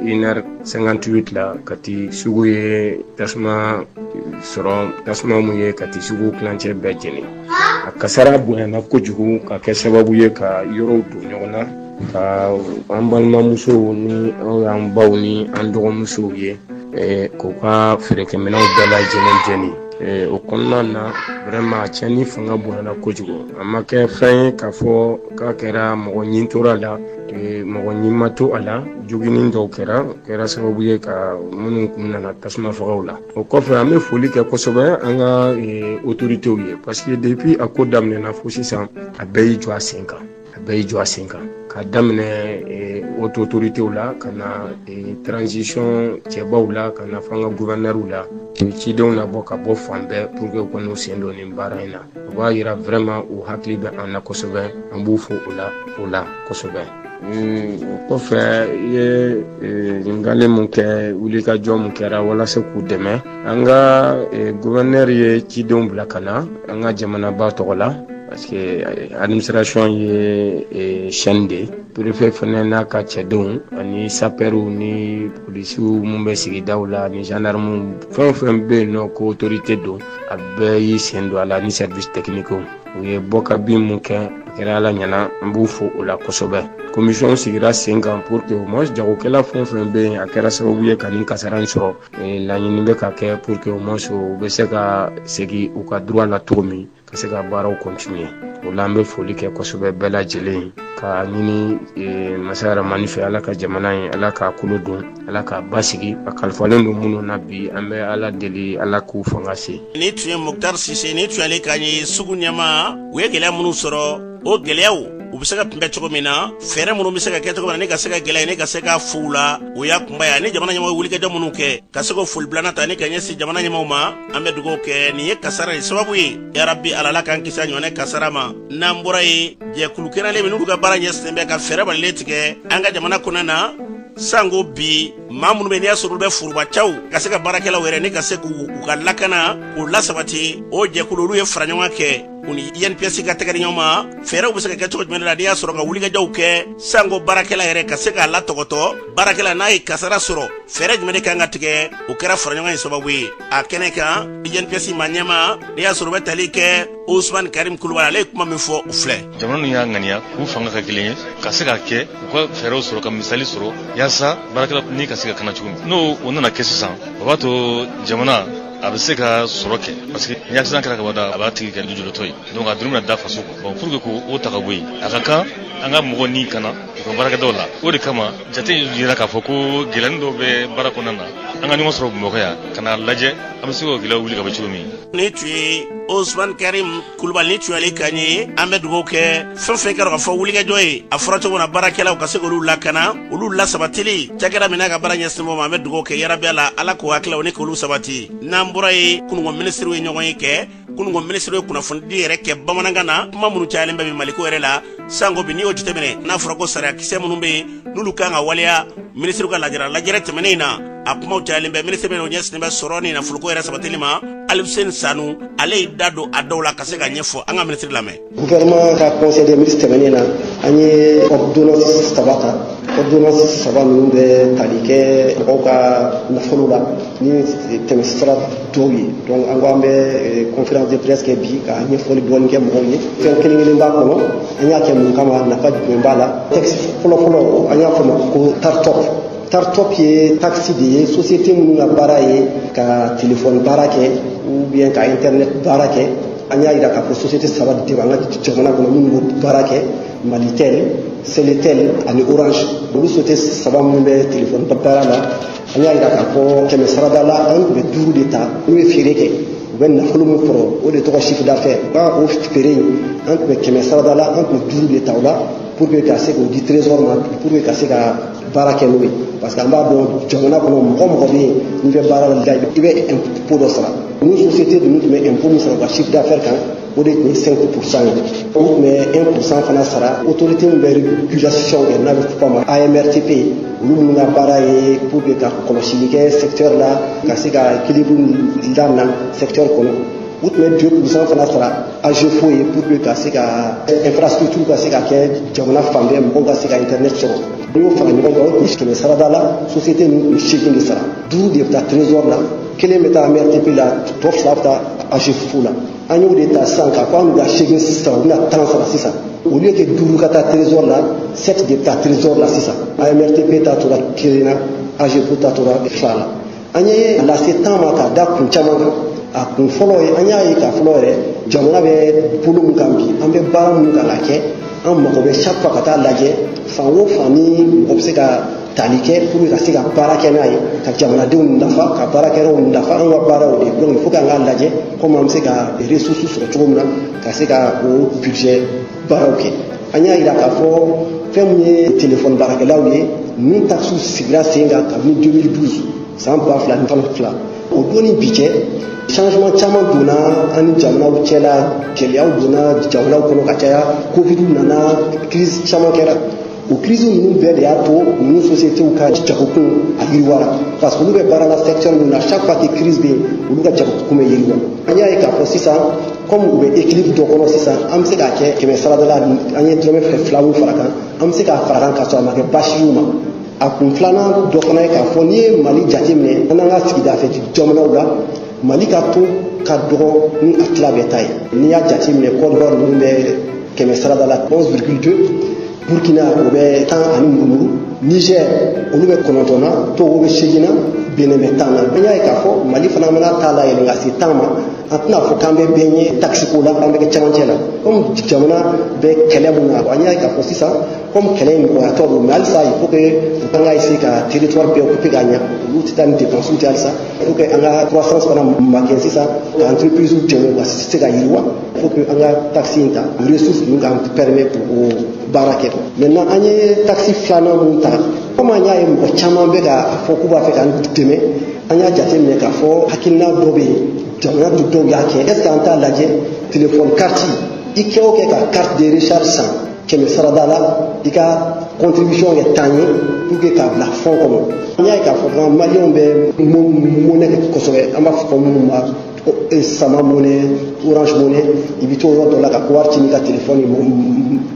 une heure 58 la kati sugu ye tasuma sɔrɔ tasuma min ye kati sugu tilancɛ bɛɛ jeni a kasara bonyana kojugu ka kɛ sababu ye ka yɔrɔw don ɲɔgɔn na ka an balimamusow ni an baw ni an dɔgɔmusow ye eh, k'u ka feerekɛminɛw bɛɛ lajɛlen jeni Eh, o kɔnɔna na vraiment cɛnni fanga bonyana kojugu a ma kɛ fɛn ye k'a fɔ k'a kɛra mɔgɔ ni tora a la mɔgɔ ni ma to a la joginni dɔw kɛra kɛra sababu ye ka minnu kun nana tasuma fagaw la o kɔfɛ an bɛ foli kɛ kosɛbɛ an ka otoritew ye parce que depuis a ko daminɛna fo sisan a bɛɛ y'i jɔ a sen kan a bɛɛ y'i jɔ a sen kan ka daminɛ otoritew la ka na transition cɛbaw la ka na fo an ka guvɛnɛriw la cidenw na bɔ ka bɔ fan bɛɛ pour que u ka n'u sen don nin baara in na u b'a yira vraiment u hakili bɛ an na kosɛbɛ an b'u fo o la kosɛbɛ o kɔfɛ i ye ɲininkali min kɛ wulikajɔ min kɛra walasa k'u dɛmɛ an ka guvɛnɛri ye cidenw bila ka na an ka jamanaba tɔgɔ la parce que administration ye chaîne de ye perefe fana n'a ka cɛdenw ani sapɛriw ni polisiw minnu bɛ sigidaw la ni gendarmew fɛn o fɛn bɛ yen n'o ko autorité don a bɛɛ y'i sen don a la ni service technique u ye bɔka bin min kɛ kɛra ala ɲɛna n b'u fo o la kosɛbɛ komisiyɔn sigira sen kan pour que au moins jagokɛla fɛn o fɛn bɛ yen a kɛra sababu ye ka nin kasara in sɔrɔ laɲini bɛ ka kɛ pour que au moins u bɛ se ka segin u ka droit la cogo min ka se ka baaraw continuer o la an bɛ foli kɛ kosɛbɛ bɛɛ lajɛlen ka ɲini masa rahamani fɛ ala ka jamana in ala k'a kolo don ala ka basigi a kalifalen don minnu na bi an bɛ ala deli ala k'u fanga se ni tun ye muktar sise ni tun y'ale kan ye sugu ɲɛmaa u ye gɛlɛya minnu sɔrɔ o gɛlɛyaw u bɛ se ka kunbɛn cogo min na fɛɛrɛ minnu bɛ se ka kɛ cogo min na ni ka se ka gɛlɛya ni ka se ka fo u la o y'a kunba ye ani jamana ɲɛmɔgɔ wulikajɔ minnu kɛ ka se ka foli bila ni tanuni ka ɲɛsin jamana ɲɛmɔgɔw ma an bɛ dugawu kɛ nin ye kasara de sababu ye yarabi ala ala k'an kisi a ɲɔgɔnna kasara ma n'an bɔra yen jɛkulu kɛnɛlen min n'olu ka baara ɲɛsinnen bɛ ka fɛɛrɛ balilen tigɛ an ka jamana kɔnɔ na sanko bi maa minnu bɛ n'i y'a sɔrɔ olu bɛ forobacaw ka se ka baarakɛlaw yɛrɛ ni ka se k'u ka lakana k'u lasabati o jɛkulu olu ye fara ɲɔgɔn kɛ u ni INPS ka tɛgɛ di ɲɔgɔn ma fɛɛrɛw bɛ se ka kɛ cogo jumɛn la n'i y'a sɔrɔ ka wulikajɔw kɛ sanko baarakɛla yɛrɛ ka se k'a latɔpɔtɔ baarakɛla n'a ye kasara sɔrɔ fɛɛrɛ jumɛn de kan ka tigɛ o kɛra fara ɲɔgɔn ye sababu ye a kɛnɛ kan INPS maa ɲɛma n'i y'a sɔrɔ o bɛ tali kɛ osmani karim kulubali ale ye kuma min fɔ o filɛ jamana ninnu y'a ŋaniya k'u fanga kɛ kelen ye ka se ka kɛ u ka fɛɛrɛw sɔrɔ ka misali sɔrɔ yaasa baarakɛla ni ka se ka kana cogo min n'o o nana kɛ sisan o b'a to jamana a bɛ se ka sɔrɔ kɛ parce que ni accident kɛra kabada a b'a tigi kɛ lujuratɔ ye donc a doni bɛna da faso kun bon pour que k'o ta ka bɔ yen a ka kan an ka mɔgɔ ni kana u ka baarakɛdaw la o de kama jate jira k'a fɔ ko gɛlɛyani dɔw bɛ baara kɔnɔna na an ka ɲɔgɔn sɔrɔ bamakɔ yan ka n'a lajɛ an bɛ se k'o gɛlɛyaw wuli ka bɔ cogo min ni tun ye osman karim kulubali ni tun y'ale kan ye an bɛ dugawu kɛ fɛn fɛn kɛra ka fɔ wulikajɔ ye a fɔra cogo min na baarakɛlaw ka se k'olu lakana olu lasabatili cakɛda min n'a ka baara ɲɛsinnen b'o ma an bɛ dugawu kɛ yarabi ala ala k'o hakililaw ni k'olu sabati n'an bɔra yen kunun ko minisiriw ye ɲɔgɔnye kɛ kunun ko minisiri ye kunnafonidi yɛrɛ kɛ bamanankan na kuma minnu cayalen bɛ bi maliko yɛrɛ la sanko bi n'i y'o jateminɛ n'a fɔra ko sariya kisɛ minnu bɛ yen n'olu kan ka waleya minisiriw ka lajara lajɛrɛ tɛmɛnen in na a kumaw cayalen bɛ minisiri min n'o ɲɛsinnen bɛ sɔrɔ ni nafoloko yɛrɛ sabatili ma alifuseni sanu ale y'i da don a dɔw la ka se ka ɲɛfɔ an ka minisiri lamɛn gouvernement ka conseil des ministres tɛmɛnen na an ye ordonnance saba ta ordonnance saba ninnu bɛ tali kɛ mɔgɔw ka nafolo la ni tɛmɛsira dɔw ye donc an ko an bɛ eh, conférence de presse kɛ bi ka ɲɛfɔli dɔɔni kɛ mɔgɔw ye fɛn kelen kelen b'a kɔnɔ an y'a kɛ mun kama nafa jumɛn b'a la texte fɔlɔ fɔlɔ an y'a fɔ ma ko TARTOP TARTOP ye taxe de ye société minnu ka baara ye ka telefɔni baara kɛ ou bien ka internet baara kɛ an y'a jira k'a fɔ société saba de bɛ an ka jamana kɔnɔ minnu b'o baara kɛ malitel seletel ani orange olu société saba minnu bɛ telefɔni baara la an y'a jira k'a fɔ kɛmɛ sarada la an tun bɛ duuru de ta n'u ye feere kɛ u bɛ nafolo min sɔrɔ o de tɔgɔ chiffre d'affaires o feere in an tun bɛ kɛmɛ sarada la an tun bɛ duuru de ta o la pour que ka se k'o di trésor ma pour que ka se ka baara kɛ n'o ye parce que an b'a dɔn jamana kɔnɔ mɔgɔ o mɔgɔ bɛ yen n'i bɛ baara la i bɛ impôt dɔ sara nin société ninnu tun bɛ impôt min sara u ka chiffre d'affaires kan o de tun ye 5 pourcent ye u tun bɛ 1 pourcent fana sara autorité min bɛ régulation kɛ n'a bɛ fɔ a ma AMRTP olu minnu ka baara ye pour que ka kɔlɔsili kɛ secteur la ka se ka équilibre dilan secteur kɔnɔ u tun bɛ 2 pourcent fana sara AGEFAU ye pour que ka se ka infrastructure ka se ka kɛ jamana fan bɛɛ mɔgɔw ka se ka internet sɔrɔ n'i y'o fara ɲɔgɔn kan o tun kɛmɛ sarada la société ninnu tun seegin de sara duuru de bɛ taa trésor la kelen bɛ taa AMRTP la tɔ fila bɛ taa AGEFAU la an y'o de ta sisan k'a fɔ an bɛ ka seegin sisan u bɛna tan sara sisan au lieu que duuru ka taa trésor la sept de bɛ taa trésor la sisan AMRTP ta tora kelen na AGEFAU ta tora fila la an y'a lase tan ma ka da kun caman kan a kun fɔlɔ ye an y'a ye k'a fɔlɔ yɛrɛ jamana bɛ bolo min kan bi an bɛ baara minnu kan ka kɛ an mago bɛ chaque fois ka taa lajɛ fan o fan ni mɔgɔ bɛ se ka tali kɛ pour ka se ka baara kɛ n'a ye ka jamanadenw nafa ka baarakɛlaw nafa an ka baaraw de don il faut k'an k'a lajɛ komi an bɛ se ka ressources sɔrɔ cogo min na ka se ka o budget baaraw kɛ an y'a yira k'a fɔ fɛn min ye telefɔni baarakɛlaw ye min takisiw sigira sen kan kabini 2012 san ba fila ni tan fila o don ni bi cɛ changement caman donna an ni jamanaw cɛla gɛlɛyaw donna jamanaw kɔnɔ ka caya covid nana crise caman kɛra o crise ninnu bɛɛ de y'a to ninnu sociétéw ka jagokun a yiriwara parce que olu bɛ baara la secteur min na chaque fois que crise bɛ yen olu ka jagokun bɛ yiriwa an y'a ye k'a fɔ sisan comme u bɛ équilibre dɔ kɔnɔ sisan an bɛ se k'a kɛ kɛmɛ sarada la an ye dɔrɔmɛ fila fila min fara kan an bɛ se k'a fara kan k'a sɔrɔ a ma kɛ baasi y'u ma a kun filanan dɔ fana ye k'a fɔ n'i ye mali jate minɛ an n'an ka sigida fɛ jamanaw la mali ka taux ka dɔgɔ ni a tila bɛɛ ta ye n'i y'a jate minɛ Côte d'Ivoire ninnu bɛ kɛmɛ sarada la 11,2 burkina o bɛ tan ani murumuru niger olu bɛ kɔnɔntɔn na togo bɛ seegin na benin bɛ tan na an y'a ye k'a fɔ mali fana mana a ta layɛlɛ ka se tan ma an tɛna a fɔ k'an bɛ bɛɛ ɲɛ takisiko la an bɛ kɛ cɛmancɛ la komi jamana bɛ kɛlɛ mun na an y'a ye k'a fɔ sisan komi kɛlɛ in nɔgɔyatɔ don mais halisa il faut que an ka essayer ka territoire bɛɛ occuper ka ɲa olu tɛ taa ni dépense tɛ halisa il faut que an ka croissance fana makɛn sisan ka entreprisew dɛmɛ ka se ka yiriwa il faut que an ka taxe in ta ressource ninnu k'an permet pour o baara kɛ maintenant an ye taxe filanan mun ta komi an y'a ye mɔgɔ caman bɛ k'a fɔ k'u b'a fɛ k'an dɛmɛ an y'a jateminɛ k'a fɔ hakilina dɔ bɛ yen jamana dɔ dɔw y'a kɛ est ce que an t'a lajɛ téléphone carte i kɛ o kɛ ka carte de recharge san kɛmɛ sarada la i ka contribution kɛ tan ye pour que k'a bila fɔn kɔnɔ an y'a ye k'a fɔ fana maliyɛnw bɛ mɔnɛ kɛ kosɛbɛ an b'a fɔ minnu ma sama mɔnɛ orange mɔnɛ i bɛ to yɔrɔ dɔ la ka wari ci n'i ka telefɔni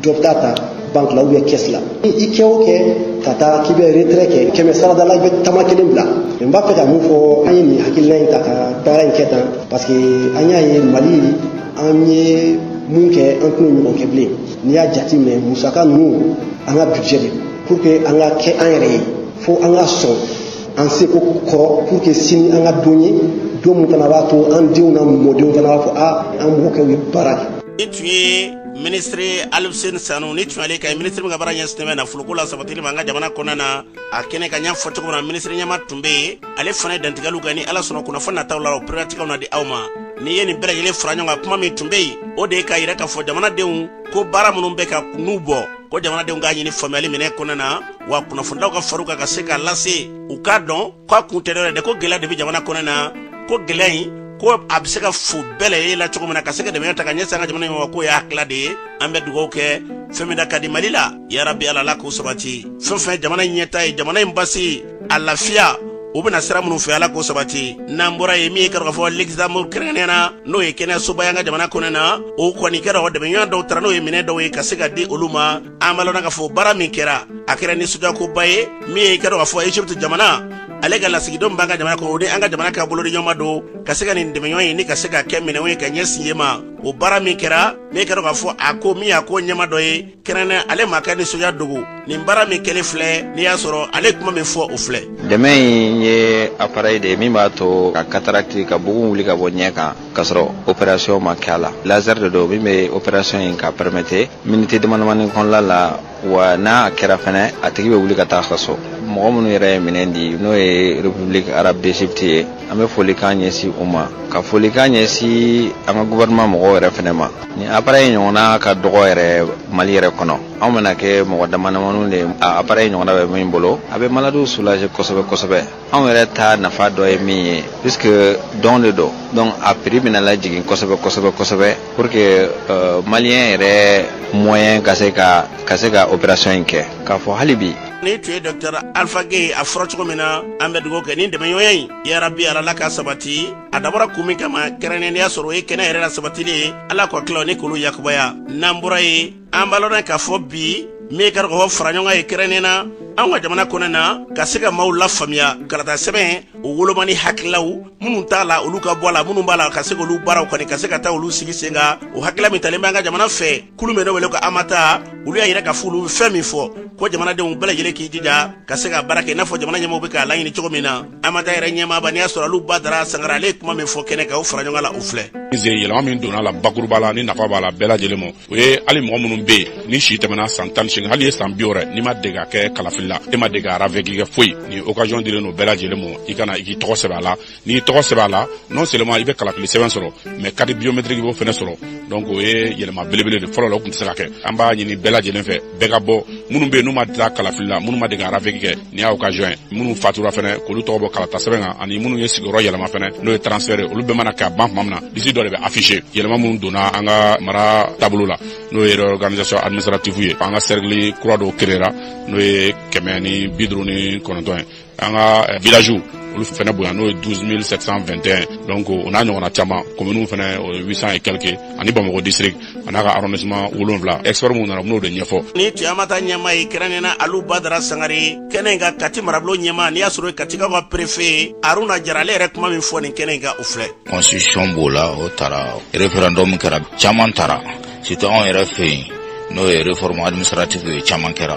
dɔ bɛ taa ta banque la ou bien caisse la i kɛ o kɛ ka taa k'i bɛ retrait kɛ kɛmɛ sarada la i bɛ tama kelen bila n b'a fɛ ka mun fɔ an ye nin hakilina in ta ka baara in kɛ tan parce que an y'a ye mali an ye mun kɛ an tɛn'o ɲɔgɔn kɛ bilen n'i y'a jateminɛ musaka ninnu an ka budget de pour que an ka kɛ an yɛrɛ ye fo an ka sɔn an seko kɔrɔ pour que sini an ka don ye don min kana b'a to an denw n'an mɔdenw kana b'a fɔ a an mɔkɛw ye baara kɛ nin tun ye minisiri alifuseni sanu nin tun y'ale kan ye minisiri min ka baara ɲɛsinnen bɛ nafoloko lasabatili ma an ka jamana kɔnɔna na a kɛnɛ ka ɲɛfɔ cogo min na minisiri ɲɛmaa tun bɛ yen ale fana ye dantigɛliw kɛ ni ala sɔnna kunnafoni nataw la o pɛrɛlatigɛw na di aw ma n'i ye nin bɛɛ lajɛlen fara ɲɔgɔn kan kuma min tun be yen o de ye k'a yira k'a fɔ jamanadenw ko baara minnu bɛ ka n'u bɔ ko jamanadenw k'a ɲini faamuyali minɛ kɔnɔ na wa kunnafonidilaw ka fara u kan ka se k'a lase u k'a dɔn ko a kun tɛ dɔ wɛrɛ dɛ ko gɛlɛya de be jamana kɔnɔ na ko gɛlɛya in ko a be se ka fo bɛɛ lajɛlen la cogo min na ka se ka dɛmɛ ta ka ɲɛsin an ka jamana ɲɔgɔn k'o y'a hakila de ye an bɛ dugaw kɛ fɛn min da ka di mali la yarabi ala la k'o sabati fɛn fɛn jamana ɲɛtaa ye jamana in basi a lafiya u bɛna sira minnu fɛ ala k'o sabati n'an bɔra yen min ye i k'a dɔn k'a fɔ luxembourg kɛrɛnkɛrɛnnenya na n'o ye kɛnɛyasoba ye an ka jamana kɔnɔ na o kɔni kɛra o dɛmɛɲɔgɔn dɔw taara n'o ye minɛ dɔw ye ka se ka di olu ma an b'a lɔnna k'a fɔ baara min kɛra a kɛra nisɔndiyakoba ye min ye i k'a dɔn k'a fɔ egypte jamana ale ka lasigidenw b'an ka jamana kɔnɔ o ni an ka jamana ka bolodiɲɔgɔnma don ka se ka nin dɛmɛɲɔgɔnya nin ka se ka kɛ minɛnw ye ka ɲɛsin yen ma o baara min kɛra n'i k'a dɔn k'a fɔ a ko min y'a ko ɲɛmaa dɔ ye kɛrɛnnɛ ale ma kɛ nisɔndiya don ko nin baara min kɛlen filɛ n'i y'a sɔrɔ ale kuma min fɔ o filɛ dɛmɛ in ye aparɛyi de ye min b'a to ka katarakiti ka bugun wuli ka bɔ ɲɛ kan k'a sɔrɔ operasiyɔn ma kɛ a la lazɛri de don min bɛ operasiyɔn in ka pɛrɛmɛte miniti damadamani kɔnɔla la wa n'a kɛra fɛnɛ a tigi bɛ wuli ka taa ka so mɔgɔ minnu yɛrɛ ye minɛn di n'o ye republiki arabe d'egypte ye an bɛ folikan ɲɛsin u ma ka folikan ɲɛsin an ka guvɛrɛnman mɔgɔw yɛrɛ fɛnɛ ma nin aparɛyi ɲɔgɔnna ka dɔgɔ yɛrɛ mali yɛrɛ kɔnɔ anw bɛna kɛ mɔgɔ damadamaninw de aparɛyi ɲɔgɔnna bɛ min bolo a bɛ maladiw soulager kosɛbɛ kosɛbɛ anw yɛrɛ ta nafa dɔ ye min ye puisque dɔn de don donc a prix bɛna lajigin kosɛbɛ kosɛbɛ kosɛbɛ pour que euh, maliyɛn yɛrɛ moyen ka se ka ka se ka opération in kɛ k'a fɔ hali bi nin tun ye dɔktɛr alpha gey a fɔra cogo min na an bɛ dugawu kɛ nin dɛmɛɲɔgɔnya in yarabi ala la ka sabati a dabɔra kun min kama kɛrɛnnenya y'a sɔrɔ o ye kɛnɛ yɛrɛ lasabatili ye ala kɔ tila ni kolo yakubaya n'an bɔra ye an b'a lɔn k'a fɔ bi min ka dɔgɔ fara ɲɔgɔn ye kɛrɛnnen na an ka jamana kɔnɔ na ka se ka maaw lafaamuya kalata sɛbɛn o woloma ni hakililaw minnu t'a la olu ka bɔ a la minnu b'a la ka se k'olu baaraw kɔni ka se ka taa olu sigi sen kan o hakilila min talen bɛ an ka jamana fɛ kulu min n'o wele ko amata olu y'a yira k'a fɔ olu fɛn min fɔ ko jamanadenw bɛɛ lajɛlen k'i jija ka se ka baara kɛ i n'a fɔ jamana ɲɛmɔgɔw bɛ k'a laɲini cogo min na amata yɛrɛ ɲɛmaaba n'i y'a sɔrɔ alu badara sangare ale ye kuma min fɔ kɛnɛ kan o fara ɲɔgɔn la o filɛ yɛlɛma min donna la bakuruba la ni nafa b'a la bɛɛ lajɛlen ma o ye hali mɔgɔ minnu bɛ yen ni si tɛmɛna san tan ni hali ye san bi wɔɔrɔ n'i ma dege ka kɛ kalafili la e ma dege ka ravɛki kɛ foyi ni occasion dilen don bɛɛ lajɛlen ma i ka na i k'i tɔgɔ sɛbɛn a la n'i tɔgɔ sɛbɛn a la non seulement i bɛ kalafili sɛbɛn sɔrɔ mais carte biométrique i b'o fana sɔrɔ donc o ye yɛlɛma belebele de fɔlɔ la o tun tɛ se ka kɛ an b'a ɲini bɛɛ lajɛlen fɛ bɛɛ ka bɔ minnu bɛ yen n'u ma ta kalafili la minnu ma dege ka ravɛki kɛ nin ye occasion minnu fatura fana k'olu tɔgɔ bɔ kalata sɛbɛn kan ani minnu ye sigiyɔrɔ yɛlɛma fana n'o ye transfert ye olu bɛɛ mana kɛ ka ban tuma min na lisi dɔ de bɛ affiché yɛlɛma minnu donna an ka mara taabolo la n'o ye réorganisation administrative ye an ka sɛrikili kura dɔw kerera n'o ye kɛmɛ ni bi duuru ni kɔnɔntɔn ye an ka eh, village olu fana bonya n'o ye 12721 donc o n'a ɲɔgɔnna caman kominiw fana o ye 800 et quelque ani bamakɔ district an'a ka arrondissement wolonwula expert minnu nana u bɛn'o de ɲɛfɔ nin tun ye amata ɲɛmaa ye kɛrɛnnen na alu badara sangare kɛnɛ in kan kati marabolo ɲɛmaa n'i y'a sɔrɔ katikaw ka perefe aruna jara ale yɛrɛ kuma min fɔ nin kɛnɛ in kan o filɛ constitution b'o la o tara référendum kɛra caman tara surtout anw yɛrɛ fɛ yen n'o ye réforme administrative ye caman kɛra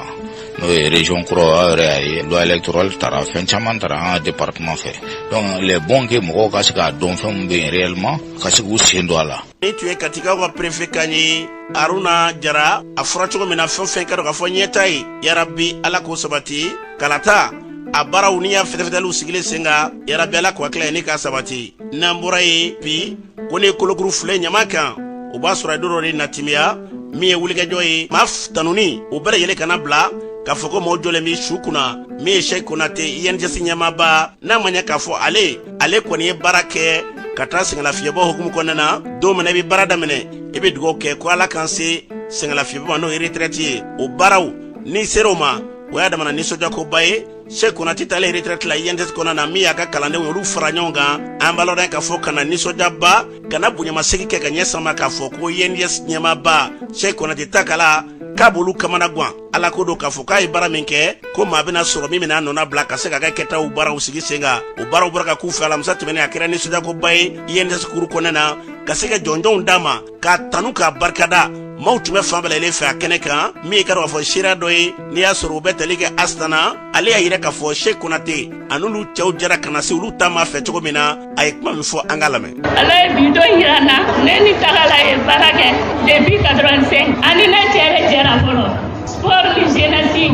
n'o ye région kura aw yɛrɛ y'a ye loi électorale tara fɛn caman tara an ka département fɛ donc il est bon que mɔgɔw ka se k'a dɔn fɛn min bɛ yen réellement ka se k'u sen don a la nin tun ye katikaw ka perefe kan ye aruna jara a fɔra cogo min na fɛn fɛn k'a dɔn k'a fɔ ɲɛtaa ye yarabi ala k'o sabati kalata a baaraw ni y'a fɛtɛfɛtɛliw sigilen sen kan yarabi ala k'o hakilila ye ni k'a sabati n'an bɔra ye bi ko ni kolokuru filɛ ɲaman kan o b'a sɔrɔ a ye don dɔ de na timiya min ye wulikajɔ ye maa tanuni o bɛɛ lajɛlen ka na bila k'a fɔ ko mɔɔ jɔlen bɛ so kunna min ye sɛki konate INJS ɲɛmaaba n'a ma ɲɛ k'a fɔ ale ale kɔni ye baara kɛ ka taa sɛgɛnlafiyɛbɔ hukumu kɔnɔna na don min na i bɛ baara daminɛ i bɛ dugawu kɛ ko ala k'an se sɛgɛnlafiyɛbɔ ma n'o ye retraite ye o baaraw n'i sera o ma o y'a damana nisɔndiyakoba ye sɛki konate taalen retraite la INJS kɔnɔna na min y'a ka kalandenw olu fara ɲɔgɔn kan an b'a lɔn k'a fɔ ka na nisɔndiyaba ka na bonyamasegin kɛ ka ɲɛ sama k'a fɔ ko INJS ɲɛmaaba sɛki konate ta kala k'a b'olu kamanagan ala k'o dɔn k'a fɔ k'a ye baara min kɛ ko maa bɛna sɔrɔ min bɛn'a nɔnabila ka se ka kɛ kɛtaw baaraw sigi sen kan o baaraw bɔra ka k'u fɛ alamisa tɛmɛnen a kɛra nisɔndiyakoba ye INJS kuru kɔnɔna na ka se ka jɔnjɔnw d'a ma k'a tanu k'a barikada maaw tun bɛ fan bɛɛ lajɛlen fɛ a kɛnɛ kan min ye ka dɔn k'a fɔ seereya dɔ ye n'i y'a sɔrɔ u bɛ tali kɛ asitana ale y'a yira k'a fɔ sheikh konate a n'olu cɛw jɛra ka na se olu ta ma fɛ cogo min na a ye kuma min fɔ an k'a lamɛn ala ye bi don yira n na ne ni tagala ye baara kɛ depuis 85 ani ne cɛ yɛrɛ jɛra fɔlɔ Sport ni jeunesse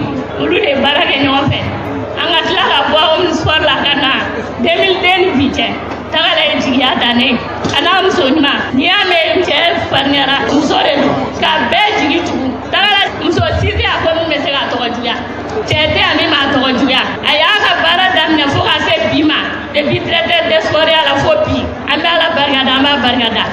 olu de baara kɛ ɲɔgɔn fɛ an ka tila ka bɔ aw sport la ka na 2002 ni bi cɛ tagala ye jigiya dan ne ye a n'a muso ɲuman n'i y'a mɛn cɛ farinyara muso de don ka bɛɛ jigi tugu tagala muso si tɛ a ko min bɛ se k'a tɔgɔ juguya cɛ tɛ a min b'a tɔgɔ juguya a y'a ka baara daminɛ fo ka se bi ma depuis directeur des sports ya la fo bi an bɛ ala barikada an b'a barikada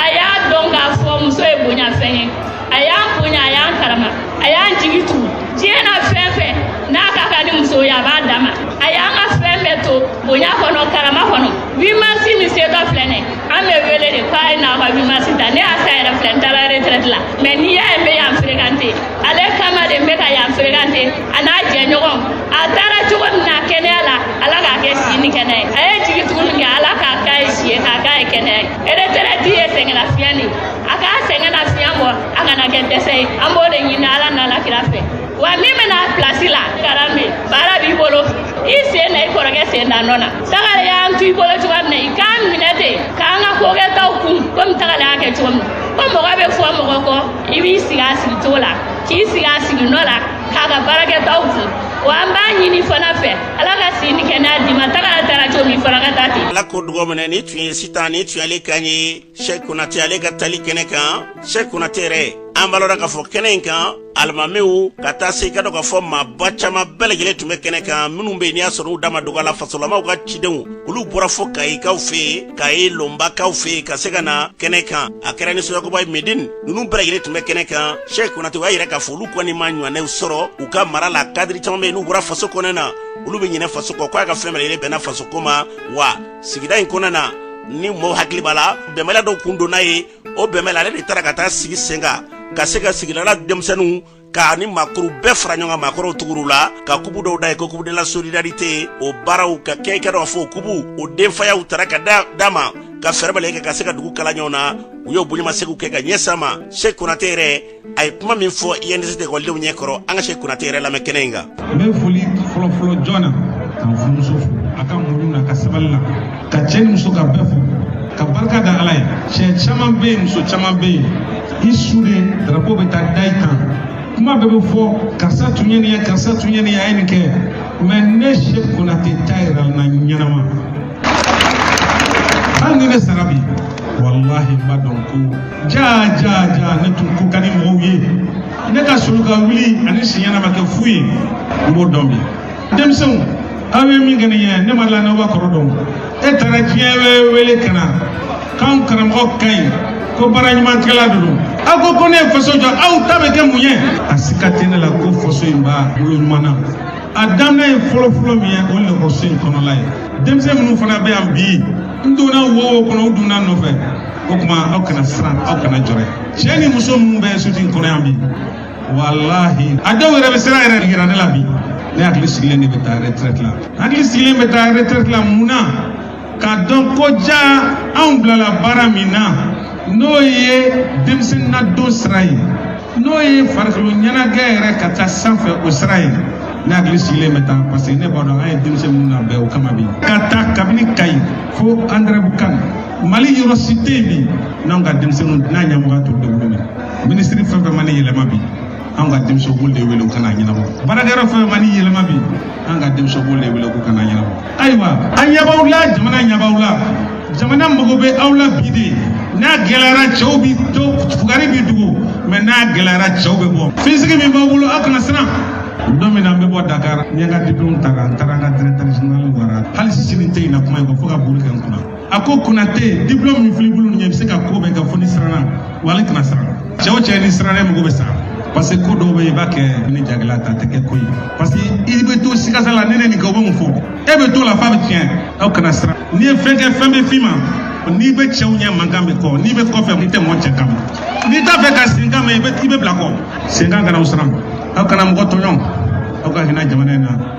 a y'a dɔn k'a fɔ muso ye bonyafɛn ye a y'an bonya a y'an karama a y'an jigi tugu diɲɛ na fɛn fɛn n'a ka kan ni muso ye a b'a d'a ma a y'an ka fɛn bɛɛ to bonya kɔnɔ karama kɔnɔ 8 mars min setɔ filɛ nin an bɛ wele de k'a ye na ka 8 mars ta ne y'a sa yɛrɛ filɛ n taara retraite la mais n'i y'a ye n bɛ yan fréquenter ale kama de n bɛ ka yan fréquenter a n'a jɛɲɔgɔn a taara cogo min na kɛnɛya la ala k'a kɛ si ni kɛnɛya ye a ye jigi tugu min kɛ ala k'a k'a ye si ye k'a k'a ye kɛnɛya ye retraite ye sɛgɛnlafiɲɛ de ye a k'a sɛgɛnlafiɲɛ bɔ a kana kɛ dɛsɛ ye an b'o de ɲini ala n'a la kira fɛ wa min bɛna pilasi la karambe baara b'i bolo i sen na i kɔrɔkɛ sen na nɔ na tagala y'an to i bolo cogoya min na i k'an minɛ ten k'an ka kokɛtaw kun komi tagala y'a kɛ cogo min ko mɔgɔ bɛ fɔ mɔgɔ kɔ i b'i sigi a sigi cogo la k'i sigi a sigi nɔ la k'a ka baarakɛtaw kun wa an b'a ɲini fana fɛ ala ka si ni kɛnɛya d'i ma tagala taara cogo min fana ka taa ten ala k'o dugawu minɛ nin tun ye sitan nin tun y'ale kan ye sɛk konate ale ka tali kɛnɛ kan sɛk konate yɛrɛ an b'a lɔn k'a fɔ kɛnɛ in kan alimamiw ka taa se i k'a dɔn k'a fɔ maaba caaman bɛɛ lajɛlen tun bɛ kɛnɛ kan minnu bɛ yen n'i y'a sɔrɔ u da ma dog'a la fasolamaw ka cidenw olu bɔra fo kayikaw fɛ kayi lɔnbakaw fɛ ka se ka na kɛnɛ kan a kɛra nisɔndiyakoba ye medin nunu bɛɛ lajɛlen tun bɛ kɛnɛ kan sɛk konate o y'a yira k'a fɔ olu kɔni m'a ɲɔgɔnnaw sɔrɔ u ka mara la kadiri caaman bɛ yen n'u bɔra faso kɔnɔ na olu bɛ ɲinɛ faso kɔ ko a ka fɛn bɛɛ lajɛlen bɛnna faso ko ma wa sigida in kɔnɔna na ni mɔgɔw hakili b'a la bɛnbaliya dɔw kun donna yen o bɛnbaliya ale de taara ka taa sigi sen kan ka se ka sigidala denmisɛnninw ka ni maakɔrɔw bɛɛ fara ɲɔgɔn kan maakɔrɔw tugur'u la ka kupu dɔw da yen ko coupe de la solidarité o baaraw ka kɛ i k'a dɔn k'a fɔ o kupu o denfayaw tara ka d'a ma ka fɛɛrɛ bɛɛ lajɛlen kɛ ka se ka dugu kala ɲɔgɔn na u y'o bonyamasegin kɛ ka ɲɛsin a ma sɛk konate yɛrɛ a ye kuma min fɔ INJS ekɔlidenw ɲɛ kɔrɔ an ka Sɛk Konate yɛrɛ lamɛn kɛnɛ in kan. N bɛ foli fɔlɔfɔlɔ jɔn na ka n furumuso fo a ka muɲu na ka sabali la ka cɛ ni muso ka bɛɛ fo ka barika da Ala ye cɛ caman bɛ yen muso caman bɛ yen i su de darapo bɛ taa da i kan kuma bɛɛ bɛ fɔ karisa tun ye nin ye karisa tun ye nin ye a ye nin kɛ mais ne Sɛk Konate ta yira n na ɲɛnama hali ni ne sara bi walahi n b'a dɔn ko jaa jaa jaa ne tun ko ka di mɔgɔw ye ne ka soli ka wuli ani siɲɛna ma kɛ fu ye n b'o dɔn bi denmisɛnw aw ye min kɛ nin ye ne ma la n'aw b'a kɔrɔ dɔn e taara diɲɛ bɛɛ wele ka na k'anw karamɔgɔ ka ɲi ko baara ɲuman kɛla de don aw ko ko ne ye faso jɔ aw ta bɛ kɛ mun ye a sika tɛ ne la ko faso in b'a bolo ɲuman na a daminɛ ye fɔlɔfɔlɔ min ye o ye lakɔliso in kɔnɔla ye denmisɛn minnu fana bɛ yan bi n donna wo o wo kɔnɔ u donna n nɔfɛ o tuma aw kana siran aw kana jɔrɛ cɛ ni muso minnu bɛ soti in kɔnɔ yan bi walahi a dɔw yɛrɛ bɛ siran yɛrɛ yira ne la bi ne hakili sigilen de bɛ taa retraite la hakili sigilen bɛ taa retraite la mun na k'a dɔn ko jaa anw bilala baara min na n'o ye denmisɛnnin ladon sira ye n'o ye farikolo ɲɛnajɛ yɛrɛ ka taa sanfɛ o sira ye ne hakili sigilen bɛ taa parce que ne b'a dɔn an ye denmisɛn minnu labɛn o kama bi ka taa kabini kayi fo andrɛbukan mali yɔrɔ si tɛ yen bi n'anw ka denmisɛnninw n'a ɲɛmɔgɔ to degun na minisiri fɛn o fɛn mana yɛlɛma bi an ka denmisɛnw b'olu de wele k'u ka n'a ɲɛnabɔ baarakɛyɔrɔ fɛn o fɛn mana yɛlɛma bi an ka denmisɛnw b'olu de wele k'u ka n'a ɲɛnabɔ ayiwa an ɲɛ b'aw la jamana ɲɛ b'aw la jamana mago bɛ aw la bi de n'a gɛlɛyara cɛw bi to fugari bi dogo mais n'a gɛlɛyara cɛw bɛ bɔ finsigi min b'aw bolo aw kana siran don min na n bɛ bɔ dakar n ye n ka diplɔmu ta n taara n ka directeur général bara hali sini n tɛ ɲina kuma in kɔ fo ka buguri kɛ n kunna a ko konate diplome min filɛ i bolo nin ye i bɛ se ka ko bɛɛ kɛ fo n'i siranna wa ale kana siran cɛ o cɛ n'i siranna i mago bɛ sa parce que ko dɔw bɛ yen i b'a kɛ ni jagɛlɛya ta tɛ kɛ ko ye parce que i bɛ to sikasika la ni n ye nin kɛ u bɛ mun fɔ e bɛ t'o la f'a bɛ tiɲɛ aw kana siran n'i ye fɛn kɛ fɛn bɛ f'i ma n'i bɛ cɛw ɲɛ mankan b'i kɔ n'i bɛ kɔfɛ i tɛ mɔgɔ senkan mɛn n'i t'a fɛ ka senkan mɛn i bɛ i bɛ bila kɔ senkan kana aw siran aw kana mɔgɔ tɔɲɔ aw ka hinɛ jamana in na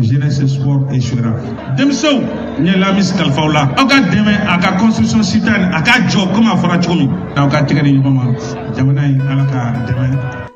jeunesse sport et cetera denmisɛnw n ye lamis kalif'aw la aw ka dɛmɛ a ka construction citoyenne a ka jɔ komi a fɔra cogo min n'aw ka tɛgɛ di ɲɔgɔn ma jamana in ala k'a dɛmɛ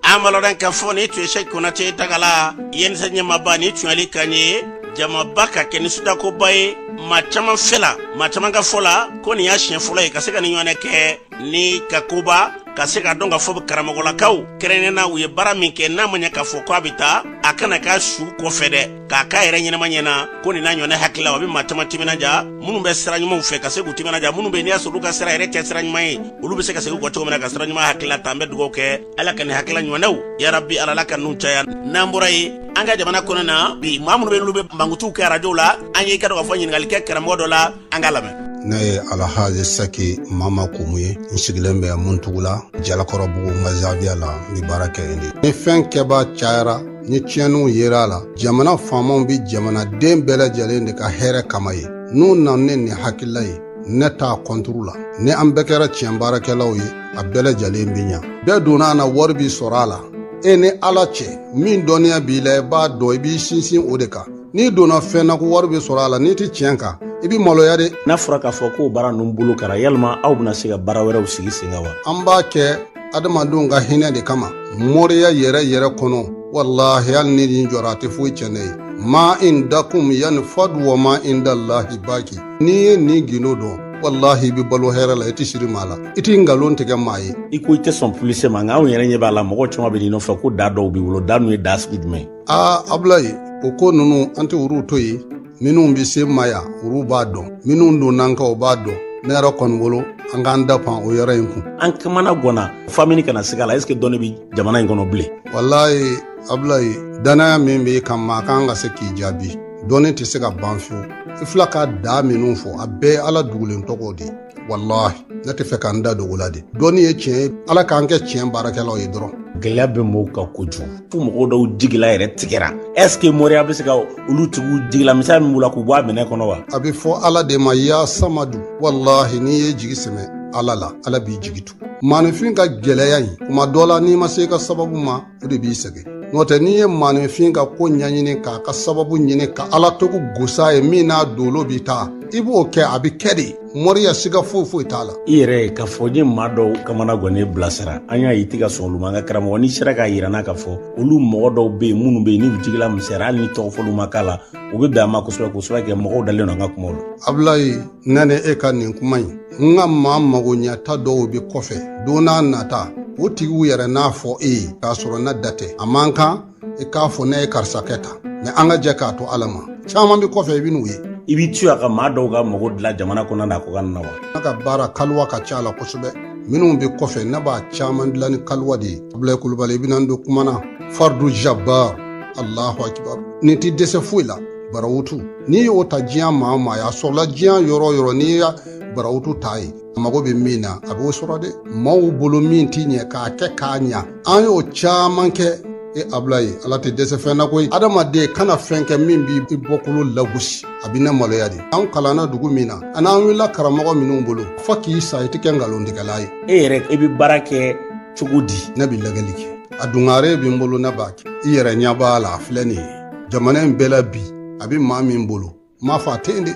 an malɔrɔn ka fɔ nin tun ye sɛki konate takala injs ɲɛmaaba nin tun y'ale kan ye jamaba k'a kɛ nisɔndiyakoba ye maa caman fɛ la maa caman ka fɔ la ko nin y'a siɲɛ fɔlɔ ye ka se ka nin ɲɔgɔnna kɛ ni ka koba ka se k'a dɔn k'a fɔ karamɔgɔlakaw kɛrɛnnena u ye baara min kɛ n'a ma ɲɛ k'a fɔ ko a bɛ taa a kana k'a su kɔfɛ dɛ k'a k'a yɛrɛ ɲɛnama ɲɛna ko nin n'a ɲɔnɛ hakililaw a bɛ maa caman timinaja minnu bɛ sira ɲumanw fɛ ka se k'u timinaja minnu bɛ n'i y'a sɔrɔ olu ka sira yɛrɛ tɛ sira ɲuman ye olu bɛ se ka segin kɔ cogo min na ka sira ɲuman hakilila ta an bɛ dugawu kɛ ala ka nin hakilila ɲɔnɛw yarabi ala ala ka ninnu caya n'an bɔra ye an ka jamana kɔnɔ na bi maa minnu bɛ n'olu bɛ mankutuw kɛ arajow la an y'i ka dɔn ka fɔ ɲininkali kɛ karamɔgɔ dɔ la an ka lamɛn ne ye alhaji saki mama kumu ye n sigilen bɛ muntugula jalakɔrɔbugu n ka zawiya la n bɛ baara kɛ yen de ni fɛn kɛbaa cayara ni tiɲɛniw yera a la jamana faamaw bɛ jamanaden bɛɛ lajɛlen de ka hɛrɛ kama ye n'u nana ni nin hakilila ye ne t'a kɔnturu la ni an bɛɛ kɛra tiɲɛ baarakɛlaw ye a bɛɛ lajɛlen bɛ ɲa bɛɛ donna a na wari bi sɔrɔ a la e ni ala cɛ min dɔnniya b'i la i b'a dɔn i b'i sinsin o de kan n'i donna fɛn na ko wari bɛ sɔrɔ a la n'i tɛ tiɲɛ kan i bɛ maloya de n'a fɔra k'a fɔ ko baara ninnu bolo kɛra yalima aw bɛna se ka baara wɛrɛw sigi sen kan wa an b'a kɛ adamadenw ka hinɛ de kama moriya yɛrɛ yɛrɛ kɔnɔ walahi hali ni nin jɔra a tɛ foyi tiɲɛ ne ye ma indakum yanfadu wa ma indallahi baki n'i ye nin gundo dɔn walahi i bɛ balo hɛrɛ la i tɛ siri maa la i tɛ nkalon tigɛ maa ye i ko i tɛ sɔn pulise ma nka anw yɛrɛ ɲɛ b'a la mɔgɔ caman bɛ n'i nɔfɛ ko da dɔw b'i bolo da ninnu ye da sugu jumɛn ye aa abulayi o ko ninnu an tɛ olu to yen minnu bɛ se ma yan olu b'a dɔn minnu donn'an kan o b'a dɔn ne yɛrɛ kɔni bolo an k'an da pan o yɔrɔ in kun an kamana gɔnna f'an bi ɲini ka na siga la ɛseke dɔnni bɛ jamana in kɔnɔ bilen walayi abulayi dannaya min b'i kan ma kan ka se k'i jaabi dɔnni tɛ se ka ban fiyewu i fila ka daa minnu fɔ a bɛɛ ye ala dogolen tɔgɔ de ye walahi ne tɛ fɛ ka n da don ko la de dɔnni ye tiɲɛ ye ala k'an kɛ tiɲɛ baarakɛlaw ye dɔrɔn gɛlɛya bɛ mɔgɔw kan kojugu fo mɔgɔ dɔw jigila yɛrɛ tigɛra est ce que moriya bɛ se ka olu tigiw jigila misali min b'u la k'u bɔ a mɔnɛ kɔnɔ wa a bɛ fɔ ala de ma ya samadu walahi n'i y'i jigi sɛmɛ ala la ala b'i jigi tu maanifin ka gɛlɛya in kuma dɔ la n'i ma se ka sababu ma o de b'i sɛgɛn n'o tɛ n'i ye maaninfin ka ko ɲɛɲini k'a ka sababu ɲini ka ala tɔgɔ gos'a ye min n'a dolo bɛ taa i b'o kɛ a bɛ kɛ de moriya siga foyi foyi t'a la i yɛrɛ k'a fɔ n ye maa dɔw kamana gɔnnen bilasira an y'a ye i tɛ ka sɔn olu ma an ka karamɔgɔ n'i sera k'a yir'an na k'a fɔ olu mɔgɔ dɔw bɛ yen minnu bɛ yen n'u jigila misɛra hali ni tɔgɔ fɔli ma k'a la u bɛ bɛn a ma kosɛbɛ kosɛbɛ kɛ mɔgɔw dalen don an ka kumaw la abulayi ne ni e ka nin kuma in n ka maa magoɲɛta dɔw be kɔfɛ don n'a nata o tigiw yɛrɛ n'a fɔ e ye k'a sɔrɔ ne da tɛ a man kan i k'a fɔ ne ye karisa kɛ tan mɛ an ka jɛ k'a to ala ma caaman be kɔfɛ i ben'u ye i b'i to yan ka maa dɔw ka mago dila jamana kɔnɔna kɔkanna na wa ne ka baara kaliwa ka ca a la kosɛbɛ minw be kɔfɛ ne b'a caaman dila ni kaliwa de ye abulayi kulubali i bena n don kuma na fardu jabar allahu akibar nin tɛ dɛsɛ foyi la barawutu n'i y'o ta diɲɛ maa o maa sɔrɔla diɲɛ yɔrɔ o yɔrɔ n'i ye barawutu t'a ye a mago bɛ min na a b'o sɔrɔ dɛ maaw bolo min tɛ ɲɛ k'a kɛ k'a ɲa an y'o caman kɛ e abulayi ala tɛ dɛsɛ fɛn na koyi adamaden kana fɛn kɛ min b'i bɔkolo lagosi a bɛ ne maloya de an kalanna dugu min na ani an wulila karamɔgɔ minnu bolo fo k'i sa i tɛ kɛ nkalontigɛla ye e yɛrɛ i bɛ baara kɛ cogo di ne bɛ lagɛli kɛ a dungare bɛ n bolo ne b'a kɛ i yɛrɛ ɲɛ b'a la a filɛ nin ye jamana in bɛɛ la bi a bɛ maa min bolo n m'a fɔ a tɛ yen dɛ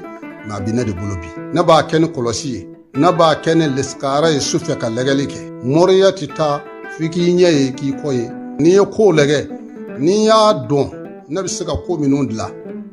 mɛ a bɛ ne de bolo bi ne b'a kɛ ni kɔlɔsi ye ne b'a kɛ ni lisikara ye su fɛ ka lɛgɛli kɛ moriya tɛ taa f'i k'i ɲɛ ye k'i kɔ ye n'i ye kow lɛgɛ n'i y'a dɔn ne bɛ se ka ko minnu dilan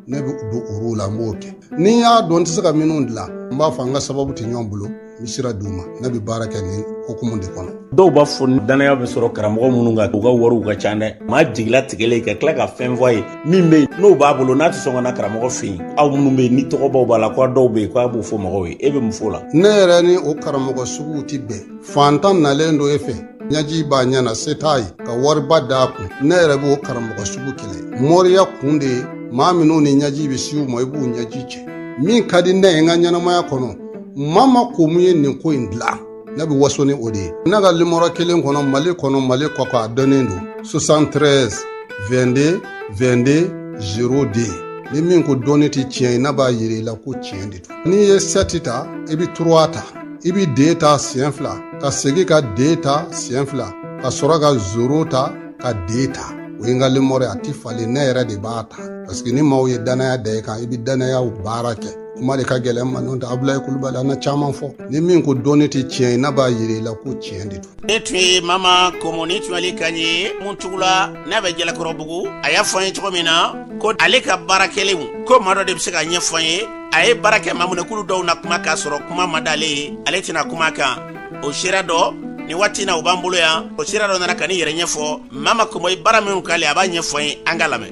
ne bɛ don olu la n b'o kɛ ni n y'a dɔn n tɛ se ka minnu dilan n b'a fɔ an ka sababu tɛ ɲɔgɔn bolo n bɛ sira d'u ma ne bɛ baara kɛ nin hukumu de kɔnɔ dɔw b'a fɔ dannaya bɛ sɔrɔ karamɔgɔ minnu kan u ka wariw ka ca dɛ maa jigilatigɛlen ka tila ka fɛn fɔ a ye min bɛ yen n'o b'a bolo n'a tɛ sɔn ka na karamɔgɔ fɛ yen aw minnu bɛ yen ni tɔgɔbaw b'a la ko dɔw bɛ yen ko a b'o fɔ mɔgɔw ye e bɛ mun fɔ o la ne yɛrɛ ni o karamɔgɔ suguw tɛ bɛn fantan nalen don e fɛ ɲaji b'a ɲɛ na se t'a ye ka wariba d'a kun ne yɛrɛ b'o karamɔgɔ sugu kɛlɛ moriya kun de ye maa minnu ni ɲaji bɛ se u ma i b'u ɲaji cɛ min ka di ne ye n ka ɲɛnamaya kɔnɔ mama komo ye nin ko in dilan ne bɛ waso ni o de ye ne ka limɔrɔ kelen kɔnɔ mali kɔnɔ mali kɔkan a dɔnnen don 73 22 22 02 ni min ko dɔnni tɛ tiɲɛ ye ne b'a yira i la ko tiɲɛ de don n'i ye sɛti ta i bɛ turuwa ta i bɛ de ta siɲɛ fila ka segin ka de ta siɲɛ fila ka sɔrɔ ka zoro ta ka de ta o ye n ka limɔrɔ ye a tɛ falen ne yɛrɛ de b'a ta paseke ni maaw ye dannaya da i kan i bɛ dannayaw baara kɛ kuma de ka gɛlɛn ma n'o tɛ abulayi kulubali an na caman fɔ ni min ko dɔnni tɛ tiɲɛ ye ne b'a yira i la ko tiɲɛ de don nin tun ye mama komo nin tun y'ale kan ye muntugula n'a bɛ jalakɔrɔbugu a y'a fɔ an ye cogo min na ko ale ka baara kɛlenw ko maa dɔ de bɛ se k'a ɲɛfɔ an ye a ye baara kɛ maa minnu ye k'olu dɔw na kuma k'a sɔrɔ kuma ma d'ale ye ale tɛna kuma kan o sira dɔ nin waati na u b'an bolo yan o sira dɔ nana ka nin yɛrɛ ɲɛfɔ mama komo ye baara minnu k'ale a b'a ɲɛfɔ n ye an k'a lamɛn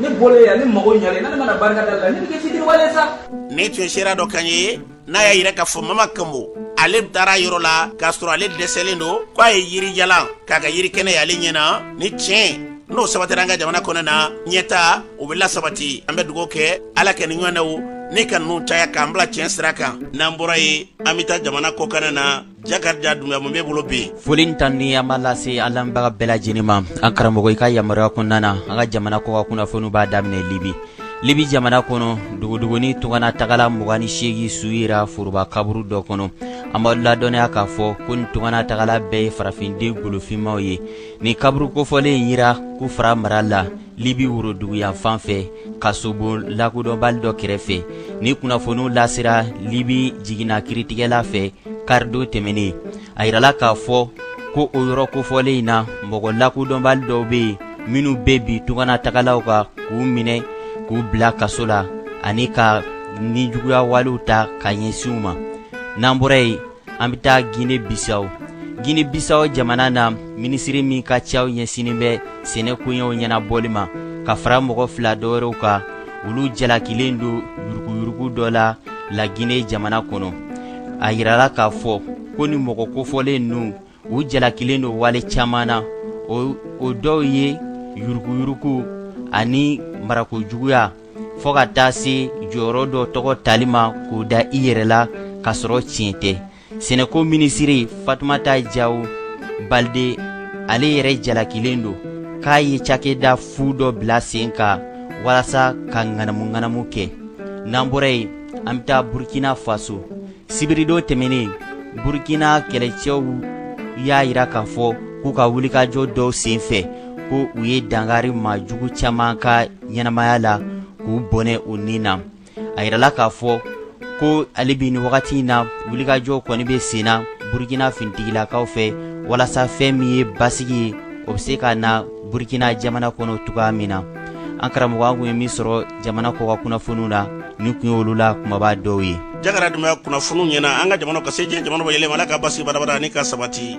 ne bɔlen yan ne mago ɲalen ni ne ma na barikada la ne bɛ kɛ fitiriwale sa nin tun ye seere dɔ kan ye n'a y'a yira k'a fɔ mama kanbo ale taara a yɔrɔ la k'a sɔrɔ ale dɛsɛlen don ko a ye yirijalan k'a kɛ yiri kɛnɛ y'ale ɲɛ na ni tiɲɛ n'o sabatira an ka jamana kɔnɔna ɲɛtaa o bɛ lasabati an bɛ dugawu kɛ ala ka nin ɲɔgɔnnaw ne ka ninnu caya k'an bila tiɲɛ sira kan n'an bɔra yen an bɛ taa jamana kɔkan na Jakarija dunbiya mun b'i bolo bi foli ni tanuni an b'a lase an lamɛnbaga bɛɛ lajɛlen ma an karamɔgɔ i ka yamaruya kɔnɔna na an ka jamana kɔkan kunnafoni b'a daminɛ libi libi jamana kɔnɔ dogodogoni tunganatagala mugan ni segin su yera foroba kaburu dɔ kɔnɔ an b'a ladɔnniya k'a fɔ ko nin tunganatagala bɛɛ ye farafinden golofinmaw ye nin kaburu kofɔlen in yera kufara mara la libi woroduguyanfan fɛ kasobon lakodɔnbali dɔ kɛrɛfɛ nin kunnafoniw lasera libi jiginna kiritigɛla fɛ karidon tɛmɛnen a yirala k'a fɔ ko o yɔrɔ kofɔlen in na mɔgɔ lakodɔnbali dɔw bɛ yen minnu bɛ bin tunganatagalaw kan k'u minɛ k'u bila kaso la ani ka nijuguya walew ta ka ɲɛsin u ma n'an bɔra yen an bɛ taa gine bisaw gine bisaw jamana na minisiri min ka caw ɲɛsinnen bɛ sɛnɛ koɲɛw ɲɛnabɔli ma ka fara mɔgɔ fila dɔwɛrɛw kan olu jalakilen don yuruguyurugu dɔ la lagine jamana kɔnɔ a yirala k'a fɔ ko nin mɔgɔ kofɔlen ninnu u jalakilen don wale caman na o dɔw ye yuruguyurugu ani marakojuguya fɔɔ ka taa se jɔyɔrɔ dɔ tɔgɔ tali ma k'o da i yɛrɛ la k'a sɔrɔ tiɲɛ tɛ sɛnɛko minisiri fatumata jawo balide ale yɛrɛ jalakilen don k'a ye cakɛda fu dɔ bila sen kan walasa ka ŋanamu-ŋanamu kɛ n'an bɔra yen an bɛ taa burkina faso sibiridon tɛmɛnen burukina kɛlɛcɛw y'a yira k'a fɔ k'u ka wulikajɔ dɔw senfɛ ko u ye dankari majugu caman ka ɲɛnamaya la k'u bɔnɛ u ni na a yirala k'a fɔ ko hali bi nin wagati in na wulikajɔ kɔni bɛ sen na burukina finitigilakaw fɛ walasa fɛn min ye basigi ye o bɛ se ka na burukina jamana kɔnɔ cogoya min na an karamɔgɔ an kun ye min sɔrɔ jamana kɔkan kunnafoniw na nin kun ye olu la kumaba dɔw ye jakariya dunbiya kunnafoniw ɲɛna an ka jamana ka se diɲɛ jamana bɛɛ yɛlɛma ala ka basi badabada ni ka sabati